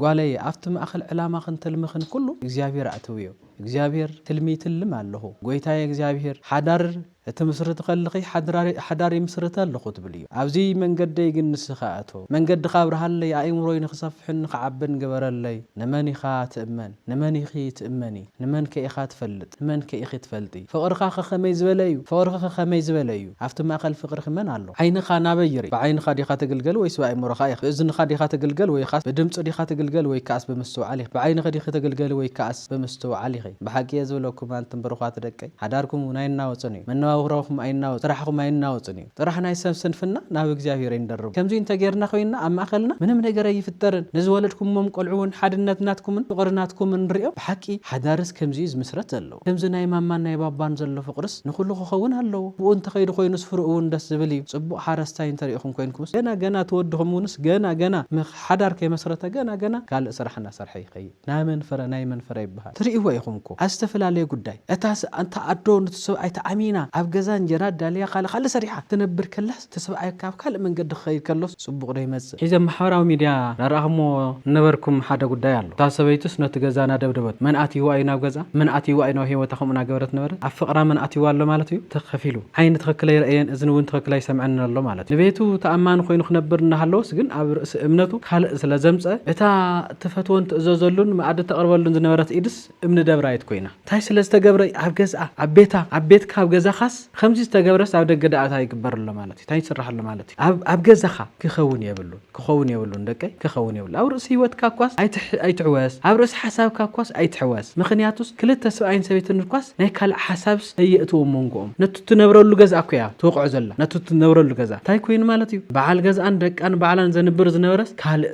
ጓለይ ኣብቲ ማእከል ዕላማኽን ትልምኽን ኩሉ እግዚኣብሄር ኣእትውዮ እግዚኣብሄር ትልሚ ይትልም ኣለኹ ጎይታየ እግዚኣብሄር ሓዳር እትምስርት ከልኺ ሓዳር ይምስርት ኣለኹ ትብል እዩ ኣብዚ መንገደይ ግን ንስኻ እቶ መንገድኻ ኣብርሃለይ ኣእምሮይ ንኽሰፍሕን ንኽዓብን ግበረለይ ንመን ኢኻ ትእመን ንመን ኢኺ ትእመኒ ንመንከ ኢኻ ትፈልጥ? ንመንከ ኢኺ ትፈልጢ? ፍቕርኻኸ ከመይ ዝበለ እዩ? ፍቕርኺኸ ከመይ ዝበለ እዩ? ኣብቲ ማእከል ፍቕርኺ መን ኣሎ? ዓይንኻ ናበይ ይርኢ? ብዓይንኻ ዲኻ ትግልገል ወይስ ብኣእምሮኻ ኢኻ? ብእዝንኻ ዲኻ ትግልገል ወይኻስ ብድምጺ ዲኻ ትግልገል ወይከኣስ ብምስትውዓል ኢኺ? ብዓይንኺ ዲኺ ትግልገሊ ወይከኣስ ብምስትውዓል ኢኺ? ብሓቂ እየ ዝብለኩም ኣንቱም ብሩኻት ደቀይ፣ ሓዳርኩም እውን ኣይናወጽን እዩ። መነባብሮኹም ኣይናወጽን፣ ስራሕኹም ኣይናወጽን እዩ። ጥራሕ ናይ ሰብ ስንፍና ናብ እግዚኣብሔር ኣይንደርቦ። ከምዙይ እንተገይርና ኮይንና ኣብ ማእኸልና ምንም ነገር ኣይፍጠርን። ንዝወለድኩሞም ቆልዑ እውን ሓድነት ናትኩምን ፍቕሪ ናትኩምን ንሪኦም። ብሓቂ ሓዳርስ ከምዙይ እዩ ዝምስረት ዘለዎ። ከምዚ ናይ ማማን ናይ ባባን ዘሎ ፍቕርስ ንኹሉ ክኸውን ኣለዎ። ብኡ እንተኸይዱ ኮይኑስ ፍርኡ እውን ደስ ዝብል እዩ። ፅቡቕ ሓረስታይ እንተሪእኹም ኮይንኩምስ ገና ገና እቲ ወድኹም እውንስ ገና ገና ምኽ ሓዳር ከይመስረተ ገና ገና ካልእ ስራሕ እናሰርሐ ይኸይድ። ናይ መን ፍረ ናይ መን ፍረ ይበሃል ትሪእዎ ኢኹም እኮ ኣብ ዝተፈላለየ ጉዳይ እታ ኣንታ ኣዶ ኑቲ ሰብኣይ ተኣሚና ኣብ ገዛ እንጀራ ኣዳልያ ካልእ ካልእ ሰሪሓ ክትነብር ከላስ እቲ ሰብኣይ ካብ ካልእ መንገዲ ክኸይድ ከሎስ ጽቡቕ ዶ ይመጽእ? ሕጂ ኣብ ማሕበራዊ ሚድያ እናረኣኽሞ ዝነበርኩም ሓደ ጉዳይ ኣሎ እታ ሰበይቱስ ነቲ ገዛ እናደብደበቶ መን ኣትይዋ እዩ ናብ ገዛ መን ኣትይዋ እዩ ናብ ሂወታ ከምኡ እናገበረት ነበረት ኣብ ፍቕራ መን ኣትይዋ ኣሎ ማለት እዩ ትኽ ከፍ ኢሉ ዓይኒ ትኽክል ኣይረእየን እዝኒ ውን ትኽክል ኣይሰምዐንን ኣሎ ማለት እዩ ንቤቱ ተኣማኒ ኮይኑ ክነብር እናሃለወስ ግን ኣብ ርእሲ እምነቱ ካልእ ስለዘምጸ እታ ትፈትዎን ትእዘዘሉን መኣዲ ተቕርበሉን ዝነበረት ኢድስ እምኒ ደብራይት ኮይና። እንታይ ስለ ዝተገብረ እዩ? ኣብ ገዝኣ፣ ኣብ ቤታ፣ ኣብ ቤትካ፣ ኣብ ገዛኻስ ኸምዚ ዝተገብረስ ኣብ ደገ ደኣ ታይ ይግበር ኣሎ ማለት እዩ? ታይ ይስራሕ ኣሎ ማለት እዩ? ኣብ ኣብ ገዛኻ ክኸውን የብሉን፣ ክኸውን የብሉን ደቀይ፣ ክኸውን የብሉን። ኣብ ርእሲ ህይወትካ እኳስ ኣይትሕ ኣይትሕወስ፣ ኣብ ርእሲ ሓሳብካ እኳስ ኣይትሕወስ። ምኽንያቱስ ክልተ ስብኣይን ሰበይትን እኳስ ናይ ካልእ ሓሳብስ ኣየእትው ኣብ መንጎኦም። ነቲ እትነብረሉ ገዝኣ እኮ እያ ትወቕዖ ዘላ፣ ነቲ እትነብረሉ ገዝኣ። እንታይ ኮይኑ ማለት እዩ? በዓል ገዝኣን ደቃን ባዕላን ዘንብር ዝነበረስ ካልእ።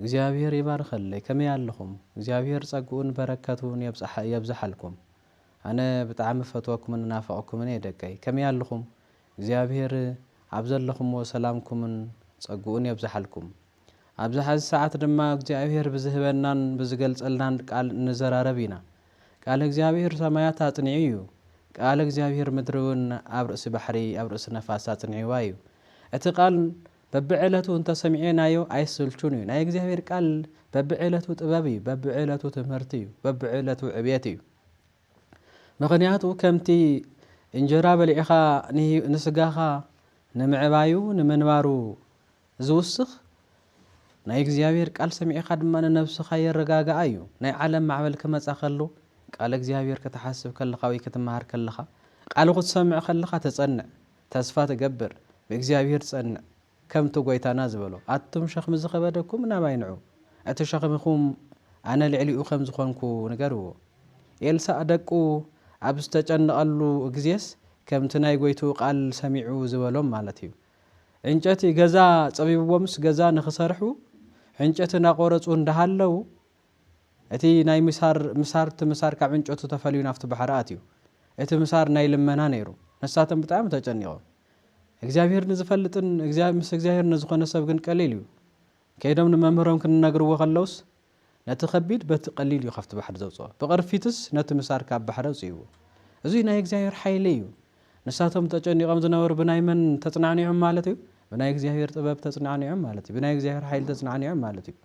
እግዚኣብሔር ይባርኸለይ ከመይ ኣለኹም እግዚኣብሔር ጸግኡን በረከቱን የብጽሓ የብዝሓልኩም ኣነ ብጣዕሚ እፈትወኩምን እናፍቐኩምን እየ ደቀይ ከመይ ኣለኹም እግዚኣብሔር ኣብ ዘለኹምዎ ሰላምኩምን ጸግኡን የብዝሓልኩም ኣብዚ ሐዚ ሰዓት ድማ እግዚኣብሔር ብዝህበናን ብዝገልጸልናን ቃል እንዘራረብ ኢና ቃለ እግዚኣብሔር ሰማያት ኣጽኒዑ እዩ ቃለ እግዚኣብሔር ምድሪ እውን ኣብ ርእሲ ባሕሪ ኣብ ርእሲ ነፋስ ኣጽኒዕዋ እዩ እቲ ቃል በብዕለቱ እንተ ሰሚዔናዮ ኣይስልቹን እዩ ናይ እግዚኣብሔር ቃል በብዕለቱ ጥበብ እዩ በብዕለቱ ትምህርቲ እዩ በብዕለቱ ዕብየት እዩ ምኽንያቱ ከምቲ እንጀራ በሊዕኻ ንስጋኻ ንምዕባዩ ንምንባሩ ዝውስኽ ናይ እግዚኣብሔር ቃል ሰሚዕኻ ድማ ንነብስኻ የረጋግኣ እዩ ናይ ዓለም ማዕበል ክመፃ ከሎ ቃል እግዚኣብሔር ክትሓስብ ከለኻ ወይ ክትመሃር ከለኻ ቃሉ ክትሰምዕ ከለኻ ተፀንዕ ተስፋ ትገብር ብእግዚኣብሄር ጸንዕ ከምቲ ጎይታና ዝበሎ ኣቱም ሸክሚ ዝከበደኩም ናባይ ንዑ እቲ ሸክምኩም ኣነ ልዕሊኡ ከም ዝኮንኩ ንገርዎ ኤልሳእ ደቁ ኣብ ዝተጨነቀሉ እግዜስ ከምቲ ናይ ጎይትኡ ቃል ሰሚዑ ዝበሎም ማለት እዩ ዕንጨቲ ገዛ ጸቢብዎምስ ገዛ ንክሰርሑ ዕንጨቲ ናቆረጹ እንዳሃለው እቲ ናይ ምሳር ምሳር እቲ ምሳር ካብ ዕንጨቱ ተፈልዩ ናብቲ ባሕሪ ኣትዩ። እቲ ምሳር ናይ ልመና ነይሩ። ንሳቶም ብጣዕሚ ተጨኒቆም። እግዚኣብሄር ንዝፈልጥን እግዚ ምስ እግዚኣብሄር ንዝኾነ ሰብ ግን ቀሊል እዩ። ከይዶም ንመምህሮም ክንነግርዎ ከለውስ ነቲ ከቢድ በቲ ቀሊል እዩ ካብቲ ባሕሪ ዘውጽኦ። ብቅርፊትስ ነቲ ምሳር ካብ ባሕሪ ኣውጺእዎ። እዙይ ናይ እግዚኣብሄር ሓይሊ እዩ። ንሳቶም ተጨኒቆም ዝነበሩ ብናይ መን ተጽናዕኒዖም ማለት እዩ? ብናይ እግዚኣብሄር ጥበብ ተጽናዕኒዖም ማለት እዩ። ብናይ እግዚኣብሄር ሓይሊ ተጽናዕኒዖም ማለት እዩ።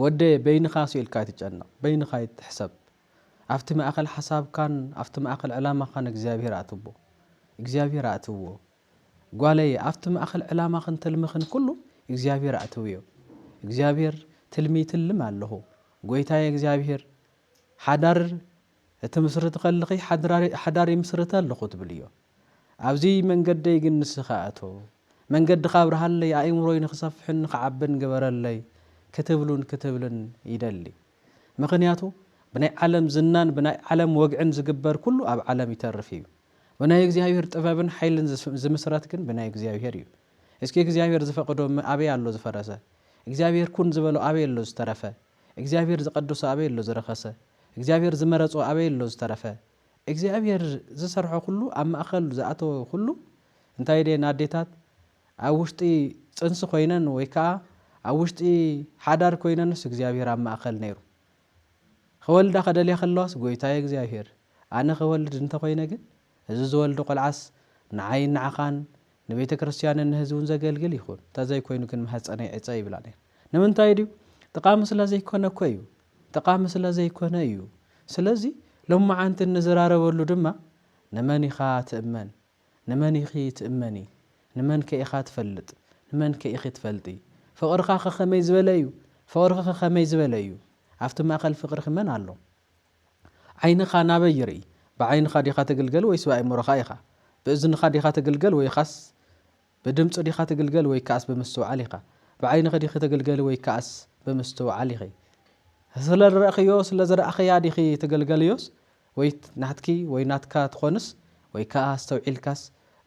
ወደየ በይንኻስ ኢልካ ኣይትጨነቕ፣ በይንኻ ኣይትሕሰብ፣ ኣብቲ ማእከል ሓሳብካን ኣብቲ ማእከል ዕላማኻን እግዚኣብሄር ኣእትዎ፣ እግዚኣብሄር ኣእትዎ፣ ጓለየ ኣብቲ ማእከል ዕላማኽን ትልምኽን ኩሉ እግዚኣብሄር ኣእትውዮ፣ እግዚኣብሄር ትልሚ ይትልም ኣለኹ፣ ጎይታየ እግዚኣብሄር ሓዳር እትምስርቲ ከልኺ ሓዳር ይምስርት ኣለኹ ትብልዮ፣ ኣብዚ መንገደይ ግን ንስኻ ኣቶ። መንገድኻ ኣብርሃለይ፣ ኣእምሮይ ንኽሰፍሕን ንኽዓብን ግበረለይ ክትብሉን ክትብልን ይደሊ። ምኽንያቱ ብናይ ዓለም ዝናን ብናይ ዓለም ወግዕን ዝግበር ኩሉ ኣብ ዓለም ይተርፍ እዩ። ብናይ እግዚኣብሔር ጥበብን ሓይልን ዝምስረት ግን ብናይ እግዚኣብሔር እዩ። እስኪ እግዚኣብሔር ዝፈቐዶ እመ ኣበይ ኣሎ ዝፈረሰ? እግዚኣብሔር ኩን ዝበሎ ኣበይ ኣሎ ዝተረፈ? እግዚኣብሔር ዝቐደሶ ኣበይ ኣሎ ዝረኸሰ? እግዚኣብሔር ዝመረጾ ኣበይ ኣሎ ዝተረፈ? እግዚኣብሔር ዝሰርሖ ኩሉ ኣብ ማእከል ዝኣተወ ኩሉ እንታይ ድየን ኣዴታት ኣብ ውሽጢ ጽንሲ ኮይነን ወይ ከኣ ኣብ ውሽጢ ሓዳር ኮይነንስ እግዚኣብሔር ኣብ ማእከል ነይሩ ኸወልዳ ከደልያ ከለዋስ ጎይታየ እግዚኣብሔር ኣነ ኸወልድ እንተ ኾይነ ግን እዚ ዝወልዶ ቆልዓስ ንዓይን ንዓኻን ንቤተ ክርስቲያንን ንህዝቡን ዘገልግል ይኹን እንተ ዘይኮይኑ ግን ማህጸነይ ዕጸ ይብላ ነይረን ንምንታይ ድዩ ጥቓ ምስላ ዘይኮነ እኮ እዩ ጠቓሚ ስለ ዘይኰነ እዩ። ስለዚ፣ ሎምዓንቲ እንዝራረበሉ ድማ፣ ንመን ኢኻ ትእመን? ንመን ኢኺ ትእመኒ? ንመንከ ኢኻ ትፈልጥ? ንመንከ ኢኺ ትፈልጢ? ፍቕርኻኸ ከመይ ዝበለ እዩ? ፍቕርኺኸ ከመይ ዝበለ እዩ? ኣብቲ ማእከል ፍቕርኺ መን ኣሎ? ዓይንኻ ናበይ ይርኢ? ብዓይንኻ ዲኻ ትግልገል ወይስ ብኣእምሮኻ ኢኻ? ብእዝንኻ ዲኻ ትግልገል ወይኻስ ብድምጹ ዲኻ ትግልገል ወይ ከኣስ ብምስትውዓል ኢኻ ብዓይንኺ ዲኺ ትግልገሊ ወይ ከኣስ ብምስትውዓል ኢኺ ስለዝረእኽዮ ስለዝረኣኽያ ዲኺ ትገልገልዮስ ወይ ናትኪ ወይ ናትካ ትኾንስ ወይ ከኣ ኣስተውዒልካስ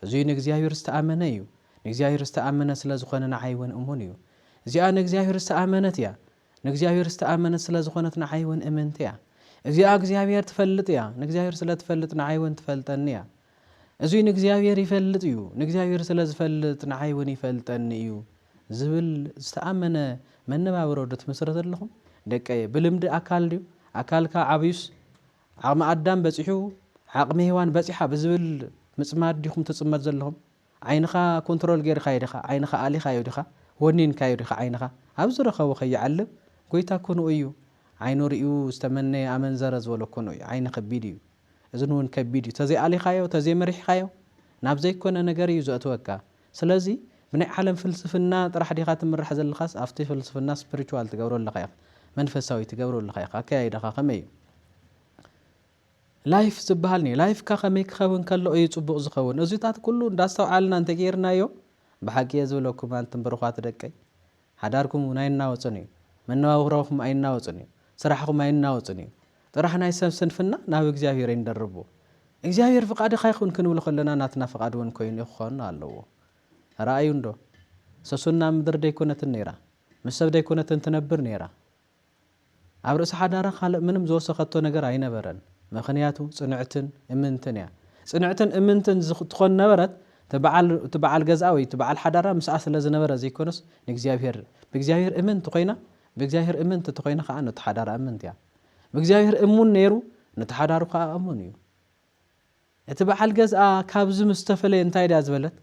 እዙይ ንእግዚኣብሔር ዝተኣመነ እዩ ንእግዚኣብሔር ዝተኣመነ ስለዝኾነ ንዓይ እውን እሙን እዩ እዚኣ ንእግዚኣብሔር ዝተኣመነት እያ ንእግዚኣብሔር ዝተኣመነት ስለዝኾነት ንዓይ እውን እምንቲ እያ እዚኣ እግዚኣብሔር ትፈልጥ እያ ንእግዚኣብሔር ስለትፈልጥ ንዓይ እውን ትፈልጠኒ እያ እዙይ ንእግዚኣብሔር ይፈልጥ እዩ፣ ንእግዚኣብሔር ስለ ዝፈልጥ ንዓይ እውን ይፈልጠኒ እዩ ዝብል ዝተኣመነ መነባብሮ ዶ ትምስርቱ ኣለኹም? ደቀየ! ብልምዲ ኣካል ድዩ? ኣካልካ ዓብዩስ ዓቕሚ ኣዳም በፂሑ ዓቕሚ ሄዋን በፂሓ ብዝብል ምፅማድ ዲኹም ትፅመዱ ዘለኹም? ዓይንኻ ኮንትሮል ገይርካዮ ዲኻ? ዓይንኻ ኣሊኻዮ ዲኻ? ወኒንካዮ ዲኻ ዓይንኻ? ኣብ ዝረኸቦ ከይዓልብ ጎይታ ኩንኡ እዩ። ዓይኑ ሪኡ ዝተመነየ ኣመንዘረ ዝበሎ ኩንኡ እዩ። ዓይኒ ከቢድ እዩ። እዝን እውን ከቢድ እዩ ተዘይ ኣሊኻዮ ተዘይ መሪሕኻዮ ናብ ዘይኮነ ነገር እዩ ዘእትወካ ስለዚ ብናይ ዓለም ፍልስፍና ጥራሕ ዲኻ ትምራሕ ዘለኻስ ኣብቲ ፍልስፍና ስፕሪቹዋል ትገብሮ ኣለኻ ኢኻ መንፈሳዊ ትገብሮ ኣለኻ ኢኻ ኣከያይዳኻ ከመይ እዩ ላይፍ ዝበሃል ኒ ላይፍካ ከመይ ክኸውን ከሎ እዩ ጽቡቕ ዝኸውን እዚታት ኩሉ እንዳስተውዓልና እንተገይርናዮ ብሓቂ እየ ዝብለኩም ኣንትን ብሩኻት ደቀይ ሓዳርኩም እውን ኣይናወጽን እዩ። መነባብሮኹም ኣይናወጽን እዩ። ስራሕኹም ኣይናወጽን እዩ። ጥራሕ ናይ ሰብ ስንፍና ናብ እግዚኣብሔር ኣይንደርቦ። እግዚኣብሔር ፍቃድካ ይኹን ክንብል ከሎና ናትና ፍቃድ እውን ኮይኑ ክኾን ኣለዎ። ርኣዩ እንዶ ሰሱን ናብ ምድሪ ደይኮነትን ነይራ፣ ምስ ሰብ ደይኮነትን ትነብር ነይራ። ኣብ ርእሲ ሓዳራ ካልእ ምንም ዝወሰኸቶ ነገር ኣይነበረን ምኽንያቱ ጽንዕትን እምንትን እያ ጽንዕትን እምንትን ትኾን ነበረት እቲ በዓል ገዝኣ ወይ እቲ በዓል ሓዳራ ምስኣ ስለ ዝነበረ ዘይኮነስ ንእግዚኣብሔር ብእግዚኣብሔር እምንቲ ኮይና ብእግዚኣብሔር እምንቲ ተኾይና ከኣ ነቲ ሓዳራ እምንቲ እያ ብእግዚኣብሔር እሙን ነይሩ ነቲ ሓዳሩ ከኣ እሙን እዩ እቲ በዓል ገዝኣ ካብዚ ምስ ተፈለየ እንታይ ድያ ዝበለት፣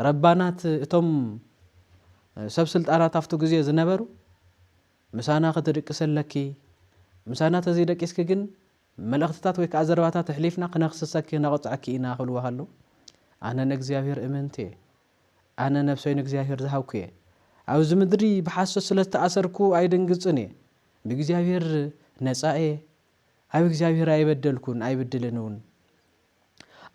ረባናት እቶም ሰብ ስልጣናት ኣብቲ ግዜ ዝነበሩ፣ ምሳና ክትድቅሲ ኣለኪ፣ ምሳና ተዘይደቂስኪ ግን መልእኽትታት ወይ ከኣ ዘረባታት ኣሕሊፍና ክነኽስሰኪ ክነቕጽዐኪ ኢና ክብልዋ ከለዉ፣ ኣነ ንእግዚኣብሄር እምንቲ እየ፣ ኣነ ነብሰይ ንእግዚኣብሄር ዝሃብኩ እየ፣ ኣብዚ ምድሪ ብሓሶት ስለ ዝተኣሰርኩ ኣይድንግጽን እየ፣ ብእግዚኣብሄር ነጻ እየ፣ ኣብ እግዚኣብሄር ኣይበደልኩን ኣይብድልን እውን።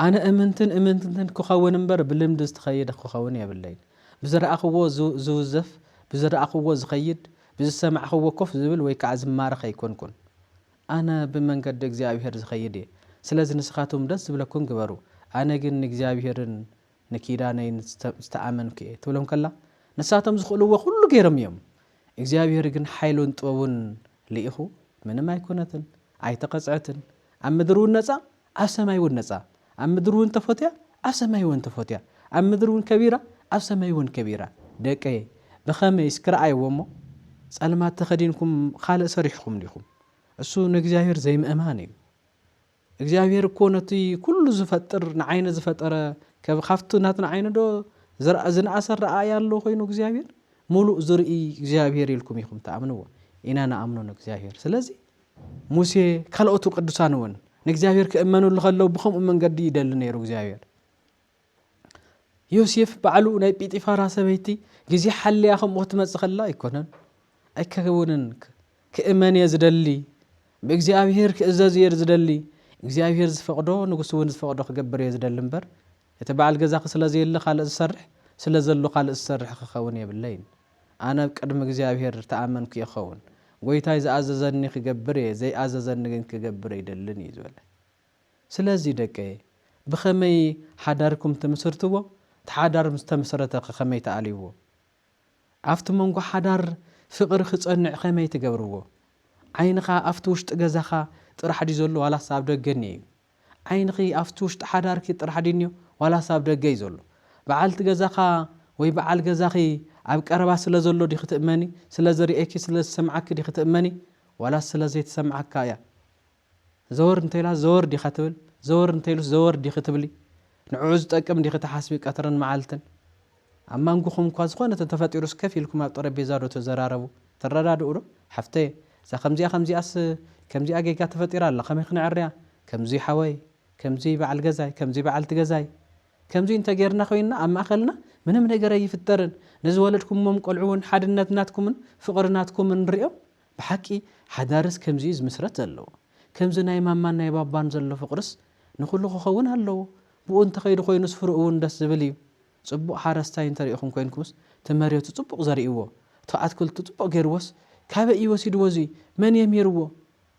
ኣነ እምንትን እምንትትን ክኸውን እምበር ብልምዲ ዝትኸይድ ክኸውን የብለይን። ብዝረኣኽዎ ዝውዘፍ፣ ብዝረኣኽዎ ዝኸይድ፣ ብዝሰማዕኽዎ ኮፍ ዝብል ወይ ከዓ ዝማረኽ ኣይኮንኩን። ኣነ ብመንገዲ እግዚኣብሄር ዝኸይድ እየ። ስለዚ ንስኻትኩም ደስ ዝብለኩም ግበሩ። ኣነ ግን ንእግዚኣብሄርን ንኪዳነይ ዝተኣመንኩ'የ ትብሎም ከላ፣ ንሳቶም ዝኽእልዎ ኩሉ ገይሮም እዮም፣ እግዚኣብሄር ግን ሓይሉን ጥበቡን ልኢኹ ምንም ኣይኮነትን፣ ኣይተቐጽዐትን፣ ኣብ ምድሪ ውን ነጻ ኣብ ሰማይ ውን ነጻ፣ ኣብ ምድሪ ውን ተፎትያ ኣብ ሰማይ ውን ተፎትያ፣ ኣብ ምድሪ ውን ከቢራ ኣብ ሰማይ ውን ከቢራ፣ ደቀየ ብኸመይ እስኪ ርኣይዎ እሞ ጸልማት ተኸዲንኩም ኻልእ ሰሪሕኹም ዲኹም፣ እሱ ንእግዚኣብሄር ዘይምእማን እዩ፣ እግዚኣብሔር እኮ ነቲ ኩሉ ዝፈጥር ንዓይነ ዝፈጠረ ከብ ካብቲ ናትና ዓይኒ ዶ ዝርኣ ዝንኣሰ ኣረኣእያ ኣሎ ኮይኑ እግዚኣብሔር ሙሉእ ዝርኢ እግዚኣብሔር ኢልኩም ኢኹም ትኣምንዎ ኢና ንኣምኖ ንእግዚኣብሔር ስለዚ ሙሴ ካልኦቱ ቅዱሳን እውን ንእግዚኣብሔር ክእመንሉ ከለው ብከምኡ መንገዲ ይደሊ ነይሩ እግዚኣብሔር ዮሴፍ ባዕሉ ናይ ጲጢፋራ ሰበይቲ ግዜ ሓልያ ከምኡ ክትመጽእ ከላ ኣይኮነን ኣይከውንን ክእመን እየ ዝደሊ ብእግዚኣብሄር ክእዘዝ እየ ዝደሊ እግዚኣብሄር ዝፈቕዶ ንጉስ እውን ዝፈቕዶ ክገብር እየ ዝደሊ እምበር እቲ በዓል ገዛኺ ስለ ዘየለ ካልእ ዝሰርሕ ስለ ዘሎ ካልእ ዝሰርሕ ክኸውን የብለይን ኣነ ኣብ ቅድሚ እግዚኣብሄር ተኣመንኩ እየ ክኸውን ጐይታይ ዝኣዘዘኒ ክገብር እየ ዘይኣዘዘኒ ግን ክገብር ኣይደልን እዩ ዝበለ ስለዚ ደቀየ ብኸመይ ሓዳርኩም ትምስርትዎ እቲ ሓዳር ምስ ተመሰረተ ከ ከመይ ትኣልይዎ ኣብቲ መንጎ ሓዳር ፍቅሪ ክጸንዕ ከመይ ትገብርዎ ዓይንኻ ኣብቲ ውሽጢ ገዛኻ ጥራሕ ድዩ ዘሎ ዋላስ ኣብ ደገ እኒኦ እዩ ዓይንኺ ኣብቲ ውሽጢ ሓዳርኪ ጥራሕ ድዩ እኒኦ ዋላስ ኣብ ደገ እዩ ዘሎ በዓልቲ ገዛኻ ወይ በዓል ገዛኺ ኣብ ቀረባ ስለ ዘሎ ዲኺ ትእመኒ ስለ ዝርእየኪ ስለ ዝሰምዓኪ ዲኺ ትእመኒ ዋላስ ስለ ዘይትሰምዓካ እያ ዘወር እንተኢላ ዘወር ዲኻ ትብል? ዘወር እንተኢሉስ ዘወር ዲኺ ትብሊ? ንዕዑ ዝጠቅም ዲኺ ትሓስቢ ቀትርን መዓልትን? ኣብ ማንጉኹም እኳ ዝኾነ ተተፈጢሩስ ከፍ ኢልኩም ኣብ ጠረጴዛ ዶ ትዘራረቡ? ትረዳድኡ ዶ? ሓፍተየ እዛ ከምዚኣ ከምዚኣስ ከምዚኣ ጌጋ ተፈጢራ ኣላ ከመይ ክነዐርያ? ከምዙይ ሓወይ፣ ከምዙይ በዓል ገዛይ፣ ከምዙይ በዓልቲ ገዛይ፣ ከምዙይ እንተ ጌርና ኮይንና ኣብ ማእኸልና ምንም ነገር ኣይፍጠርን፣ ንዝወለድኩሞም ቆልዑ እውን ሓድነት ናትኩምን ፍቕሪ ናትኩምን ሪኦም ብሓቂ ሓዳርስ ከምዚ እዩ ዝምስረት ዘለዎ ከምዚ ናይ ማማን ናይ ባባን ዘሎ ፍቅርስ ንኩሉ ክከውን ኣለዎ ብኡ እንተከይዱ ኮይኑስ ፍርኡ እውን ደስ ዝብል እዩ ፅቡቅ ሓረስታይ እንተሪኢኩም ኮይንኩምስ ትመሬቱ ፅቡቅ ዘሪእዎ እቲ ኣትክልቱ ፅቡቅ ገይርዎስ ካበይ እዩ ወሲድዎ እዙይ መን እዬም ሂርዎ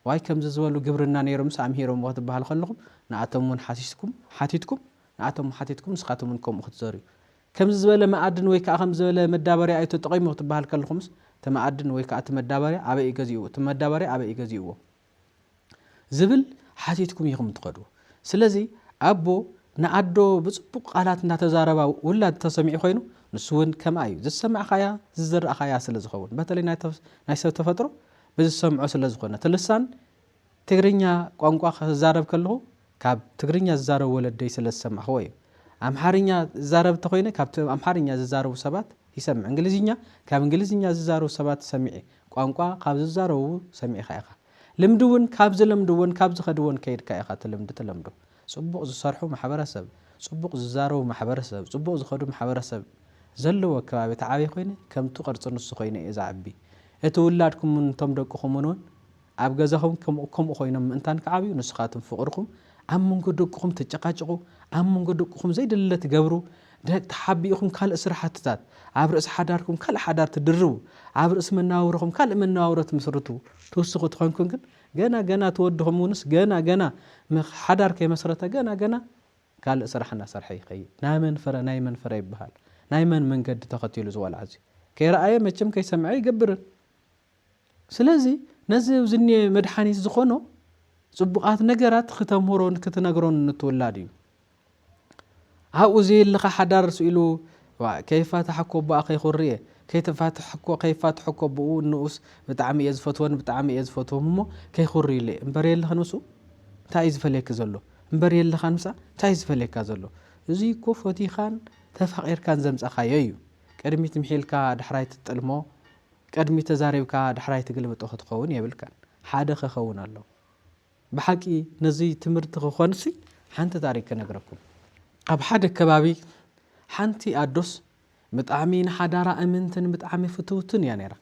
ዋይ ከምዚ ዝበሉ ግብርና ነይሮምስ ኣምሂሮምዎ ክትበሃል ከለኩም ንኣቶም እውን ሓቲትኩም ንኣቶም ሓቲትኩም ንስካትኩም እውን ከምኡ ክትዘርኡ ከምዚ ዝበለ መኣድን ወይ ከኣ ከምዚ ዝበለ መዳበርያ እዩ ተጠቒሙ ክትበሃል ከለኹምስ እቲ መኣድን ወይ ከኣ እቲ መዳበርያ ኣበይ እዩ ገዚእዎ እቲ መዳበርያ ኣበይ እዩ ገዚእዎ ዝብል ሓቲትኩም ኢኹም ትኸዱ። ስለዚ ኣቦ ንኣዶ ብጽቡቕ ቃላት እንዳተዛረባ ውላድ ተሰሚዑ ኮይኑ ንሱ እውን ከምኣ እዩ። ዝሰማዕካያ ዝዘራእካያ ስለ ዝኸውን በተለይ ናይ ሰብ ተፈጥሮ ብዝሰምዖ ስለ ዝኾነ እቲ ልሳን ትግርኛ ቋንቋ ክዛረብ ከለኹ ካብ ትግርኛ ዝዛረቡ ወለደይ ስለ ዝሰማዕኹዎ እዩ። ኣምሓርኛ እዛረብ እንተኾይነ ካብቲ ኣምሓርኛ ዝዛረቡ ሰባት ይሰምዕ። እንግሊዝኛ ካብ እንግሊዝኛ ዝዛረቡ ሰባት ሰሚዐ። ቋንቋ ካብ ዝዛረቡ ሰሚዕካ ኢኻ። ልምዲ እውን ካብ ዝለምድዎን ካብ ዝኸድዎን ከይድካ ኢኻ እቲ ልምዲ ትለምዶ። ፅቡቕ ዝሰርሑ ማሕበረሰብ፣ ፅቡቕ ዝዛረቡ ማሕበረሰብ፣ ፅቡቕ ዝኸዱ ማሕበረሰብ ዘለዎ ከባቢ ተዓብየ ኮይነ ከምቱ ቅርፂ ንሱ ኮይነ እየ ዝዓቢ። እቲ ውላድኩም እውን እቶም ደቅኹም እውን ኣብ ገዛኹም ከምኡ ከምኡ ኮይኖም ምእንታን ክዓብዩ ንስኻትም ፍቕርኹም ኣብ መንጎ ደቅኹም ተጨቃጭቑ ኣብ መንጎ ደቅኹም ዘይድለ ትገብሩ ደቅ ተሓቢእኹም ካልእ ስራሕትታት ኣብ ርእሲ ሓዳርኩም ካልእ ሓዳር ትድርቡ ኣብ ርእሲ መነባብሮኹም ካልእ መነባብሮ ትምስርቱ ትውስኹ ትኾንኩም ግን ገና ገና ትወድኹም እውንስ ገና ገና ሓዳር ከይመስረተ ገና ገና ካልእ ስራሕ እናሰርሐ ይኸይድ ናይ መን ፍረ ናይ መን ፍረ ይበሃል ናይ መን መንገዲ ተኸቲሉ ዝወልዓዚ ከይረኣየ መቸም ከይሰምዐ ይገብርን ስለዚ ነዚ ኣብዚ እኒኤ መድሓኒት ዝኾኖ ፅቡቓት ነገራት ክተምህሮን ክትነግሮን ንትውላድ እዩ። ኣብኡ ዘየለኻ ሓዳር ስኢሉ ዋ ከይፋታሕ እኮ ቦኣ ከይኹሪ እየ ከይተፋትሕ እኮ ከይፋትሕ እኮ ብኡ ንኡስ ብጣዕሚ እየ ዝፈትወን ብጣዕሚ እየ ዝፈትዎም እሞ ከይኹሪ ኢለ እምበር የለኽን ምስኡ እንታይ እዩ ዝፈልየኪ ዘሎ እምበር የለኻን ምሳ እንታይ እዩ ዝፈልየካ ዘሎ እዚ እኮ ፈቲኻን ተፋቒርካን ዘምፀኻዮ እዩ ቅድሚት ምሒልካ ዳሕራይ ትጥልሞ ቅድሚት ተዛሪብካ ዳሕራይ ትግልብጦ ክትኸውን የብልካን ሓደ ክኸውን ኣለዎ ብሓቂ ነዚ ትምህርቲ ክኾንሲ ሓንቲ ታሪክ ክነግረኩም ኣብ ሓደ ከባቢ ሓንቲ ኣዶስ ብጣዕሚ ንሓዳራ እምንትን ብጣዕሚ ፍትውትን እያ ነይራ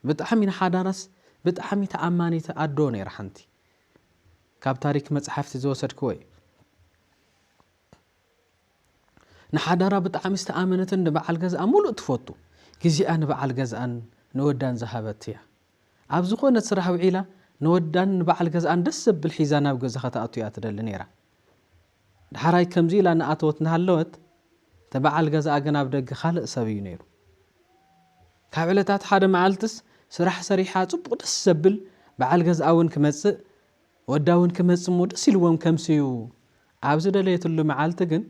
ብጣዕሚ ንሓዳራስ ብጣዕሚ ተኣማኒት ኣዶ ነይራ ሓንቲ ካብ ታሪክ መፅሓፍቲ ዝወሰድክዎ እዩ ንሓዳራ ብጣዕሚ ዝተኣመነትን ንበዓል ገዝኣ ሙሉእ ትፈቱ ግዜኣ ንበዓል ገዝኣን ንወዳን ዝሃበት እያ። ኣብ ዝኾነት ስራሕ ውዒላ ንወዳን ንበዓል ገዝኣን ደስ ዘብል ሒዛ ናብ ገዛ ከተኣቱ እያ ትደሊ ነይራ። ደሓራይ ከምዚ ኢላ እናኣተወት እናሃለወት እቲ በዓል ገዝኣ ግን ኣብ ደገ ካልእ ሰብ እዩ ነይሩ። ካብ ዕለታት ሓደ መዓልትስ ስራሕ ሰሪሓ ጽቡቕ ደስ ዘብል በዓል ገዝኣ እውን ክመጽእ ወዳ ውን ክመጽእ እሞ ደስ ኢልዎም ከምስዩ ኣብ ዝደለየትሉ መዓልቲ ግን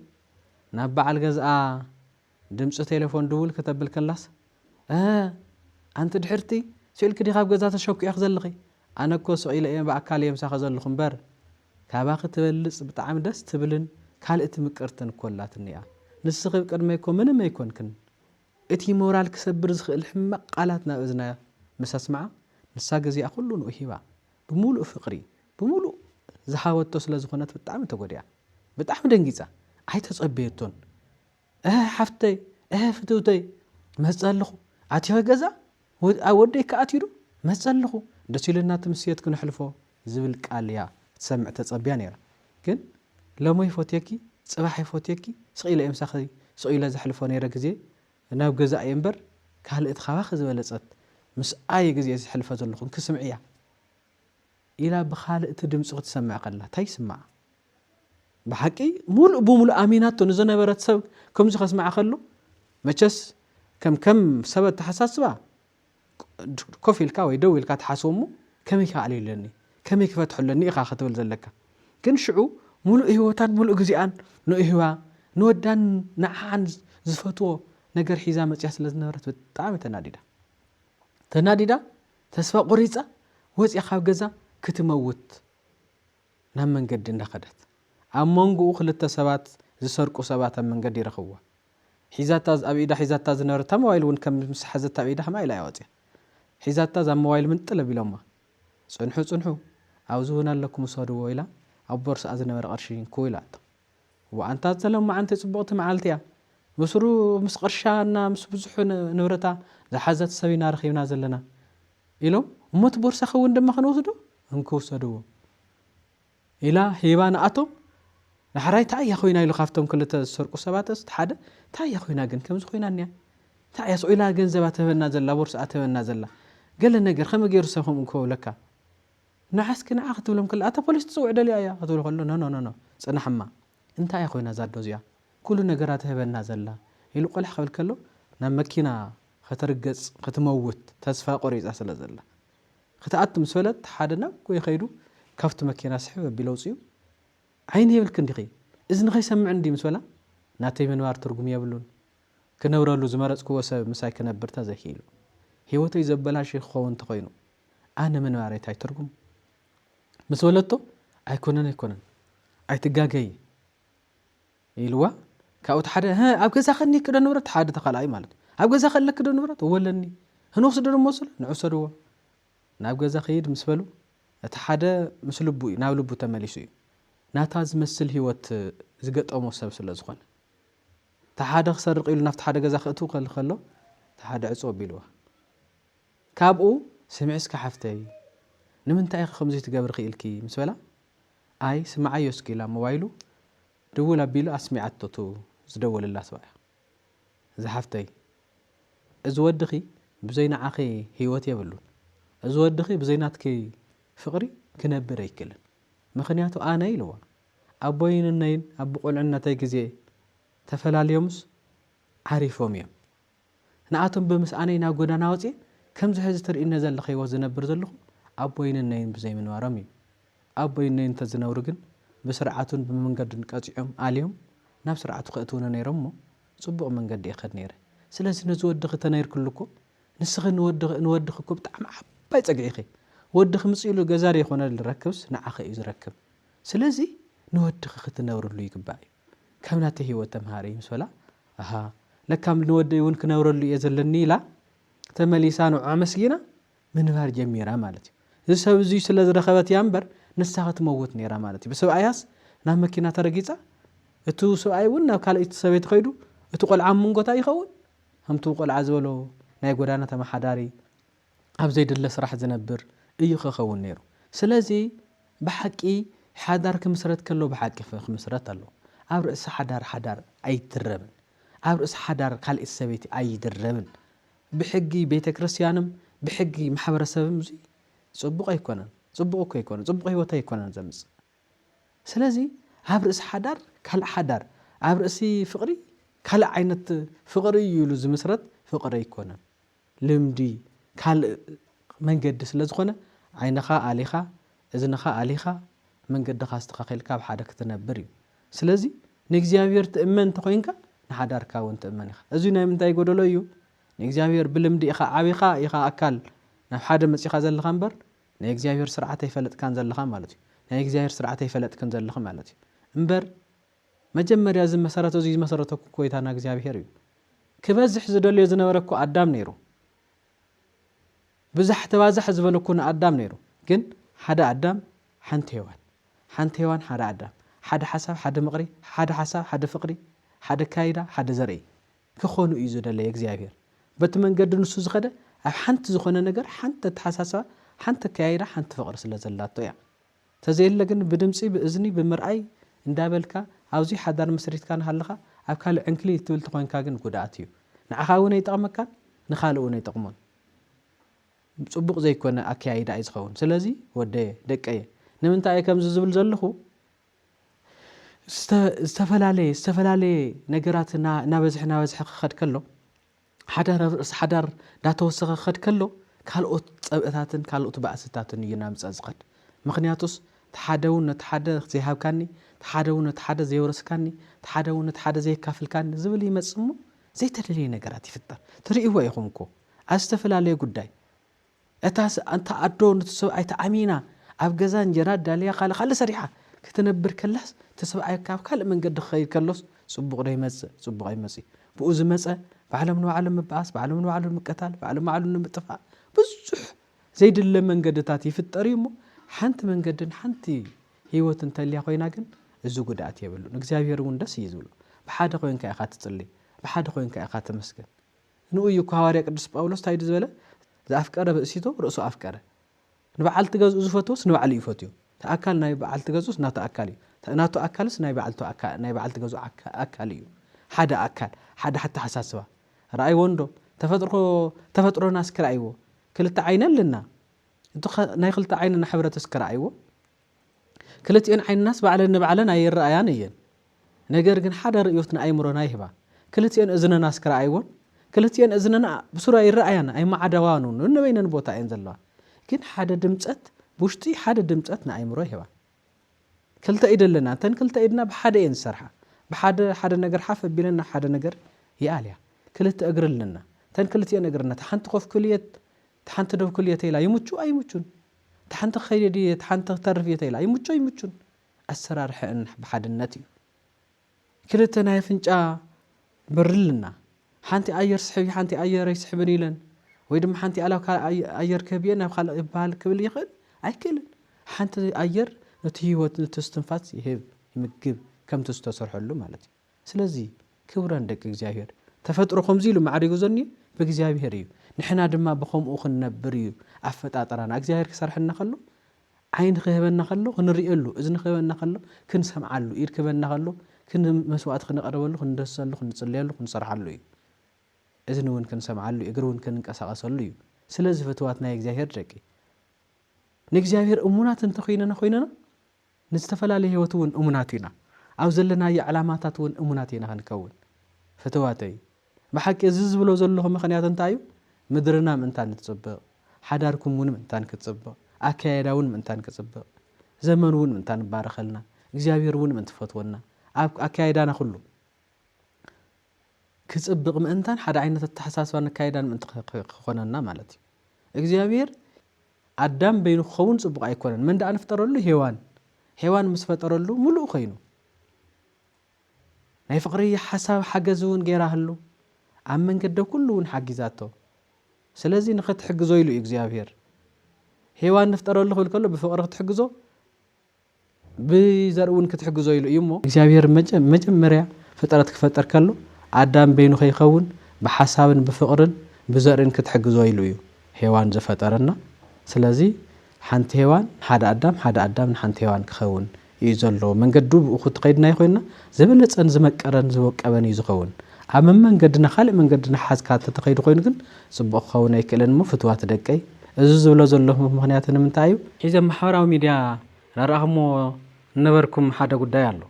ናብ በዓል ገዝኣ ድምጺ ቴለፎን ድውል ክተብል ከላስ እህ ኣንቲ ድሕርቲ ስኢልኪ ዲኺ ኣብ ገዛ ተሸኲዕኪ ዘለኺ ኣነ እኮ ስቕ ኢለ እየ ብኣካል እየ ምሳኺ ዘለኹ እምበር ካባኺ ትበልጽ ብጣዕሚ ደስ ትብልን ካልእቲ ምቅርትን እኮ ኣላትኒ እያ ንስኺ ብቅድመይ እኮ ምንም ኣይኮንክን እቲ ሞራል ክሰብር ዝኽእል ሕማቕ ቃላት ናብ እዝና ምስ ኣስመዓ ንሳ ግዜኣ ኩሉ ንኡ ሂባ ብምሉእ ፍቅሪ ብምሉእ ዝሃበቶ ስለ ዝኮነት ብጣዕሚ ተጎዲኣ ብጣዕሚ ደንጊጻ ኣይተጸበየቶን እህ ሓፍተይ እህ ፍትውተይ መጸ ኣለኹ ኣቲኸ ገዛ ወደይ ከ ኣትዩ ዶ መጸ ኣለኹ ደስ ኢሉና እቲ ምስየት ክነሕልፎ ዝብል ቃል እያ ክትሰምዕ ተጸብያ ነይራ ግን ሎሚ ይፎትየኪ ጽባሕ ይፎትየኪ ስቅ ኢለ እየ ምሳኺ ስቅ ኢለ ዘሕልፎ ነይረ ግዜ ናብ ገዛ እየ እምበር ካልእ እቲ ካባኺ ዝበለጸት ምስ ኣየ ግዜ ዘሕልፈ ዘለኹ እንኪ ስምዕያ ኢላ ብኻልእ እቲ ድምጺ ክትሰምዕ ከላ ታይ ይስምዓ ብሓቂ ሙሉእ ብሙሉእ ኣሚናቶ ንዝነበረት ሰብ ከምዚ ከስምዓ ከሎ መቸስ ከም ከም ሰብ ኣተሓሳስባ ኮፍ ኢልካ ወይ ደው ኢልካ ትሓስቦ እሞ ከመይ ክኣልዮ ኣለኒ ከመይ ክፈትሖ ኣለኒ ኢኻ ክትብል ዘለካ ግን ሽዑ ሙሉእ ሂወታን ሙሉእ ግዜኣን ንእህዋ ንወዳን ንዓዓን ዝፈትዎ ነገር ሒዛ መጽያ ስለ ዝነበረት ብጣዕሚ ተናዲዳ ተናዲዳ ተስፋ ቆሪጻ ወጽያ ካብ ገዛ ክትመውት ናብ መንገዲ እንዳኸደት ኣብ መንጎኡ ክልተ ሰባት ዝሰርቁ ሰባት ኣብ መንገዲ ይረኽብዋ ሒዛታ ኣብ ኢዳ ሒዛታ ዝነበረት እታ ሞባይል ውን ከም ምስ ሓዘታ ኣብ ኢዳ ከምኣ ኢላ እያ ወጽያ ሒዛታ እዛ ሞባይል ምንጥል ኣቢሎማ ጽንሑ ጽንሑ ኣብዚ ውን ኣለኩም ውሰድዎ ኢላ ኣብ ቦርስኣ ዝነበረ ቅርሺ እንኩ ኢላቶ ዋእ ኣንታ እዛ ሎማዓንቲ ጽቡቅቲ መዓልቲ እያ ምስሩ ምስ ቅርሻ እና ምስ ብዙሑ ንብረታ ዝሓዘት ሰብ ኢና ረኪብና ዘለና ኢሎም እሞ እቲ ቦርሳኪ ውን ድማ ክንወስዶ እንኩ ውሰድዎ ኢላ ሂባ ንኣቶም ዳሕራይ ታይ እያ ኮይና ኢሉ ካብቶም ክልተ ዝሰርቁ ሰባትስ እቲ ሓደ ታይ እያ ኮይና ግን ከምዚ ኮይና እኒኣ እንታይ እያ ስኡ ኢላ ገንዘባ ትህበና ዘላ ቦርስኣ ትህበና ዘላ ገለ ነገር ከመይ ገይሩ ሰብ ከምኡ ክብለካ ንዓስኪ ንዓ ክትብሎም ከላ ኣታ ፖሊስ ትፅውዕ ደልያ እያ ክትብሎ ከሎ ኖኖኖኖ ፅናሕማ እንታይ እያ ኮይና ዛዶ እዚኣ ኩሉ ነገራ ትህበና ዘላ ኢሉ ቆላሕ ክብል ከሎ ናብ መኪና ክትርገፅ ክትመውት ተስፋ ቆሪፃ ስለ ዘላ ክትኣቱ ምስ በለት ሓደ ናብ ጎይ ከይዱ ካብቲ መኪና ስሕብ ኣቢሉ ኣውጺኡ ዓይኒ የብልክን ዲኺ እዝኒ ከይሰምዕን ድዩ ምስ በላ ናተይ ምንባር ትርጉም የብሉን ክነብረሉ ዝመረጽክዎ ሰብ ምሳይ ክነብር ተዘይኪኢሉ ሂወተይ ዘበላሽይ ክኸውን ተኾይኑ ኣነ ምንባረይ ታይ ትርጉም ምስ በለቶ ኣይኮነን ኣይኮነን ኣይትጋገዪ ኢልዋ ካብኡ እቲ ሓደ ህ ኣብ ገዛኺ እኒኪ ዶ ንብረት ሓደ እቲ ካልኣይ ማለት እዩ ኣብ ገዛኺ ኣለኪ ዶ ንብረት እወ ኣለኒ ህንወስዶ ዶ መወስዶ ንዕሰድዎ ናብ ገዛ ክይድ ምስ በሉ እቲ ሓደ ምስ ልቡ እዩ ናብ ልቡ ተመሊሱ እዩ ናታ ዝመስል ህይወት ዝገጠሞ ሰብ ስለ ዝኾነ እቲ ሓደ ክሰርቕ ኢሉ ናብቲ ሓደ ገዛ ክእትው ከል ከሎ እቲ ሓደ ዕጹ ኣቢልዋ ካብኡ ስምዒ እስከ ሓፍተይ ንምንታይ ኢኺ ከምዙይ ትገብሪ ክኢልኪ ምስ በላ ኣይ ስምዓዮ እስኪ ኢላ ሞባይሉ ድውል ኣቢሉ ኣስሚዓቶ እቱ ዝደወለላ ሰብኣያ ዝሓፍተይ እዚ ወድኺ ብዘይ ንዓኺ ሂወት የብሉን እዚ ወድኺ ብዘይ ናትኪ ፍቅሪ ክነብር ኣይክልን ምኽንያቱ ኣነ ኢልዋ ኣቦይን እነይን ኣብ ብቁልዕነተይ ግዜ ተፈላልዮምስ ዓሪፎም እዮም ንኣቶም ብምስኣነይ ናብ ጎዳና ወጺኤ ከምዚ ሕዚ ትርእይኒ ዘለኺ ህይወት ዝነብር ዘለኹ ኣቦይን እነይን ብዘይምንባሮም እዩ። ኣቦይን እነይን እንተዝነብሩ ግን ብስርዓቱን ብመንገዱን ቀጺዖም ኣልዮም ናብ ስርዓቱ ከእትዉኒ ነይሮም እሞ ጽቡቕ መንገዲ እኸድ ነይረ። ስለዚ ነዚ ወድኺ ተነይርክሉ እኮ ንስኺ ንወድኺ ንወድኺ እኮ ብጣዕሚ ዓባይ ጸግዒ ኢኺ። ወድኺ ምጺኡሉ ገዛ ደይኮነ ልረክብስ ንዓኺ እዩ ዝረክብ። ስለዚ ንወድኺ ክትነብርሉ ይግባእ እዩ። ካብ ናተይ ህይወት ተምሃሪ ምስ በላ ኣሃ ለካ ንወደይ እውን ክነብረሉ እየ ዘለኒ ኢላ ተመሊሳ ንዑ ኣመስጊና ምንባር ጀሚራ ማለት እዩ እዚ ሰብ እዙይ ስለ ዝረኸበት እያ እምበር ንሳ ክትመውት ነይራ ማለት እዩ ብሰብኣያስ ናብ መኪና ተረጊፃ እቲ ሰብኣይ እውን ናብ ካልእቲ ሰበይቲ ከይዱ እቲ ቆልዓ ምንጎታ ይኸውን ከምቲ ቆልዓ ዝበሎ ናይ ጎዳና ተመሓዳሪ ኣብ ዘይድለ ስራሕ ዝነብር እዩ ኸከውን ነይሩ ስለዚ ብሓቂ ሓዳር ክምስረት ከሎ ብሓቂ ክምስረት ኣለዎ ኣብ ርእሲ ሓዳር ሓዳር ኣይድረብን ኣብ ርእሲ ሓዳር ካልኤቲ ሰበይቲ ኣይድረብን ብሕጊ ቤተክርስትያንም ብሕጊ ማሕበረሰብም እዙይ ፅቡቅ ኣይኮነን ፅቡቅ እኮ ኣይኮነን ፅቡቅ ህይወት ኣይኮነን ዘምፅእ ስለዚ ኣብ ርእሲ ሓዳር ካልእ ሓዳር ኣብ ርእሲ ፍቅሪ ካልእ ዓይነት ፍቅሪ እዩ ኢሉ ዝምስረት ፍቅሪ ኣይኮነን ልምዲ ካልእ መንገዲ ስለ ዝኾነ ዓይንኻ ኣሊኻ እዝንኻ ኣሊኻ መንገድኻ ኣስተኻኺልካ ኣብ ሓደ ክትነብር እዩ ስለዚ ንእግዚኣብሔር ትእመን እንተኾይንካ ንሓዳርካ እውን ትእመን ኢኻ እዙይ ናይ ምንታይ ጎደሎ እዩ ንእግዚኣብሔር ብልምዲ ኢኻ ዓቢኻ ኢኻ ኣካል ናብ ሓደ መጺኻ ዘለኻ እምበር ናይ እግዚኣብሔር ስርዓት ኣይፈለጥካን ዘለኻ ማለት እዩ ናይ እግዚኣብሔር ስርዓት ኣይፈለጥክን ዘለኺ ማለት እዩ እምበር መጀመርያ እዚ መሰረት እዙይ ዝመሰረተ እኮ ጐይታና እግዚኣብሄር እዩ። ክበዝሕ ዝደልዮ ዝነበረ እኮ ኣዳም ነይሩ። ብዛሕ ተባዛሕ ዝበሎ እኮ ንኣዳም ነይሩ። ግን ሓደ ኣዳም ሓንቲ ሔዋን፣ ሓንቲ ሔዋን ሓደ ኣዳም፣ ሓደ ሓሳብ ሓደ ምቕሪ፣ ሓደ ሓሳብ ሓደ ፍቕሪ፣ ሓደ ኣካይዳ ሓደ ዘርኢ ክኾኑ እዩ ዝደለየ እግዚኣብሄር። በቲ መንገዲ ንሱ ዝኸደ ኣብ ሓንቲ ዝኾነ ነገር ሓንቲ ኣተሓሳስባ፣ ሓንቲ ኣከያይዳ፣ ሓንቲ ፍቕሪ ስለ ዘላቶ እያ። ተዘየለ ግን ብድምጺ ብእዝኒ ብምርኣይ እንዳበልካ ኣብዙይ ሓዳር መስሪትካ ናሃለኻ ኣብ ካልእ ዕንክሊል እትብል ተኾይንካ ግን ጉድኣት እዩ ንዓኻ እውን ኣይጠቕመካን ንኻልእ እውን ኣይጠቕሞን ጽቡቕ ዘይኮነ ኣከያይዳ እዩ ዝኸውን ስለዚ ወደየ ደቀየ ንምንታይ እየ ከምዚ ዝብል ዘለኹ ዝተፈላለየ ዝተፈላለየ ነገራት ናበዝሐ ናበዝሐ ክኸድ ከሎ ሓዳር ኣብ ርእሲ ሓዳር እንዳተወሰኸ ክኸድ ከሎ ካልኦት ጸብእታትን ካልኦት ባእስታትን እዩ እናምጸ ዝኸድ። ምኽንያቱስ እቲ ሓደ ውን ነቲ ሓደ ዘይሃብካኒ፣ እቲ ሓደ ውን ነቲ ሓደ ዘየውረስካኒ፣ እቲ ሓደ ውን ነቲ ሓደ ዘየካፍልካኒ ዝብል ይመጽእ እሞ ዘይተደልየ ነገራት ይፍጠር። ትርእይዎ ኢኹም እኮ ኣብ ዝተፈላለየ ጉዳይ እታ እታ ኣዶ ኑቲ ሰብኣይ ተኣሚና ኣብ ገዛ እንጀራ ኣዳልያ ካልእ ካልእ ሰሪሓ ክትነብር ከላስ እቲ ሰብኣይ ካብ ካልእ መንገዲ ክኸይድ ከሎስ ጽቡቕ ዶ ይመጽእ ጽቡቕ ኣይመጽእዩ ብኡ ዝመጸ ባዕሎም ንባዕሎም ምብኣስ ባዕሎም ንባዕሎም ምቅታል ባዕሎም ባዕሎም ንምጥፋእ ብዙሕ ዘይድለ መንገድታት ይፍጠር እዩ እሞ ሓንቲ መንገድን ሓንቲ ህይወት እንተልያ ኮይና ግን እዚ ጉድኣት የብሉን እግዚኣብሔር እውን ደስ እዩ ዝብሎ ብሓደ ኮይንካ ኢኻ ትጽሊ ብሓደ ኮይንካ ኢኻ ተመስግን ንኡ እዩ እኮ ሃዋርያ ቅዱስ ጳውሎስ ታይ ድዩ ዝበለ ዘኣፍቀረ ብእሲቶ ርእሶ ኣፍቀረ ንበዓልቲ ገዝኡ ዝፈትውስ ንባዕሉ እዩ ፈትዩ እቲ ኣካል ናይ በዓልቲ ገዝኡስ ናቱ ኣካል እዩ ናቱ ኣካልስ ናይ በዓልቱ ናይ በዓልቲ ገዝኡ ኣካል እዩ ሓደ ኣካል ሓደ ኣተሓሳስባ ረኣይዎ እንዶ ተፈጥሮ ተፈጥሮና እስኪ ረኣይዎ ክልተ ዓይኒ ኣለና እቲ ናይ ክልተ ዓይንና ሕብረት እስኪ ረኣይዎ ክልቲኤን ዓይንናስ ባዕለን ንባዕለን ኣይረኣያን እየን፣ ነገር ግን ሓደ ርእዮት ንኣእምሮና ይህባ። ክልቲኤን እዝንናስ ክረኣይዎን፣ ክልቲኤን እዝንና ብሱሩ ኣይረኣያን፣ ኣይመዓደዋን፣ ነንበይነን ቦታ እየን ዘለዋ። ግን ሓደ ድምጸት ብውሽጢ ሓደ ድምጸት ንኣእምሮ ይህባ። ክልተ ኢድ ኣለና፣ እተን ክልተ ኢድና ብሓደ እየን ዝሰርሓ። ብሓደ ሓደ ነገር ሓፍ ኣቢለን ናብ ሓደ ነገር ይኣልያ። ክልተ እግሪ ኣለና፣ እተን ክልቲኤን እግርና እታ ሓንቲ ኮፍ ክልየት እታ ሓንቲ ዶ ክል እየ ተይላ ይሙቹ ኣይሙቹን እታ ሓንቲ ክከይድ እየ እታ ሓንቲ ክተርፍ እየ ተይላ ይሙቹ ኣይሙቹን ኣሰራርሐእን ብሓድነት እዩ ክልተ ናይ ኣፍንጫ በሪ ኣለና ሓንቲ ኣየር ስሕብ ሓንቲ ኣየር ኣይስሕብን ኢለን ወይ ድማ ሓንቲ ኣላብ ካልእ ኣየር ክህብ እየ ናብ ካልእ ይበሃል ክብል ይኽእል ኣይክእልን ሓንቲ ኣየር ነቲ ህይወት ነቲ ስትንፋስ ይህብ ይምግብ ከምቲ ዝተሰርሐሉ ማለት እዩ ስለዚ ክብረን ደቂ እግዚኣብሔር ተፈጥሮ ከምዚ ኢሉ ማዕሪጉ ዘኒዩ ብእግዚኣብሔር እዩ ንሕና ድማ ብከምኡ ክንነብር እዩ ኣፈጣጥራና እግዚኣብሔር ክሰርሐና ከሎ ዓይኒ ክህበና ከሎ ክንርእየሉ እዝኒ ክህበና ከሎ ክንሰምዓሉ ኢድ ክህበና ከሎ መስዋእቲ ክንቐርበሉ ክንደሰሉ ክንጽልየሉ ክንሰርሓሉ እዩ እዝኒ እውን ክንሰምዓሉ እግሪ እውን ክንንቀሳቐሰሉ እዩ ስለዚ ፍትዋት ናይ እግዚኣብሔር ደቂ ንእግዚኣብሔር እሙናት እንተኮይነና ኮይነና ንዝተፈላለየ ሕይወት እውን እሙናት ኢና። ኣብ ዘለናዮ ዕላማታት እውን እሙናት ኢና ክንከውን። ፍትዋተይ! ብሓቂ እዚ ዝብሎ ዘለኹ ምኽንያት እንታይ እዩ? ምድርና ምእንታን እትጽብቕ፣ ሓዳርኩም እውን ምእንታን ክትጽብቕ፣ ኣከያይዳ እውን ምእንታን ክጽብቕ፣ ዘመን እውን ምእንታን እባረኸልና፣ እግዚኣብሔር እውን ምእንቲ ፈትወና፣ ኣብ ኣከያይዳና ኩሉ ክጽብቕ ምእንታን ሓደ ዓይነት ኣተሓሳስባን ኣከያይዳን ምእንቲ ክኾነና ማለት እዩ። እግዚኣብሔር ኣዳም በይኑ ክኸውን ጽቡቕ ኣይኮነን። መን ደኣ ንፍጠረሉ? ሄዋን። ሄዋን ምስ ፈጠረሉ ምሉእ ኮይኑ። ናይ ፍቕሪ ሓሳብ ሓገዝ እውን ገይራህሉ። ኣብ መንገደ ኩሉ እውን ሓጊዛቶ። ስለዚ ንኽትሕግዞ ኢሉ እዩ እግዚኣብሄር። ሄዋን ንፍጠረሉ ክብል ከሎ ብፍቕሪ ክትሕግዞ፣ ብዘርኢ እውን ክትሕግዞ ኢሉ እዩ እሞ። እግዚኣብሄር መጀመርያ ፍጥረት ክፈጥር ከሎ ኣዳም በይኑ ከይኸውን ብሓሳብን ብፍቕርን ብዘርእን ክትሕግዞ ኢሉ እዩ ሄዋን ዝፈጠረ እና ስለዚ ሓንቲ ሄዋን ንሓደ ኣዳም ሓደ ኣዳም ንሓንቲ ሄዋን ክኸውን እዩ ዘለዎ መንገዱ ብኡ ክትኸይድ ናይ ኮይና ዝበለጸን ዝመቀረን ዝወቀበን እዩ ዝኸውን ኣብ መመንገድና ካልእ መንገዲ እናሓዝካ ተተኸይዱ ኮይኑ ግን ጽቡቕ ክኸውን ኣይክእልን እሞ ፍትዋት ደቀይ እዚ ዝብሎ ዘለኹ ምኽንያት ንምንታይ እዩ? ሕጂ ኣብ ማሕበራዊ ሚድያ ዳርኣኹሞ ዝነበርኩም ሓደ ጉዳይ ኣሎ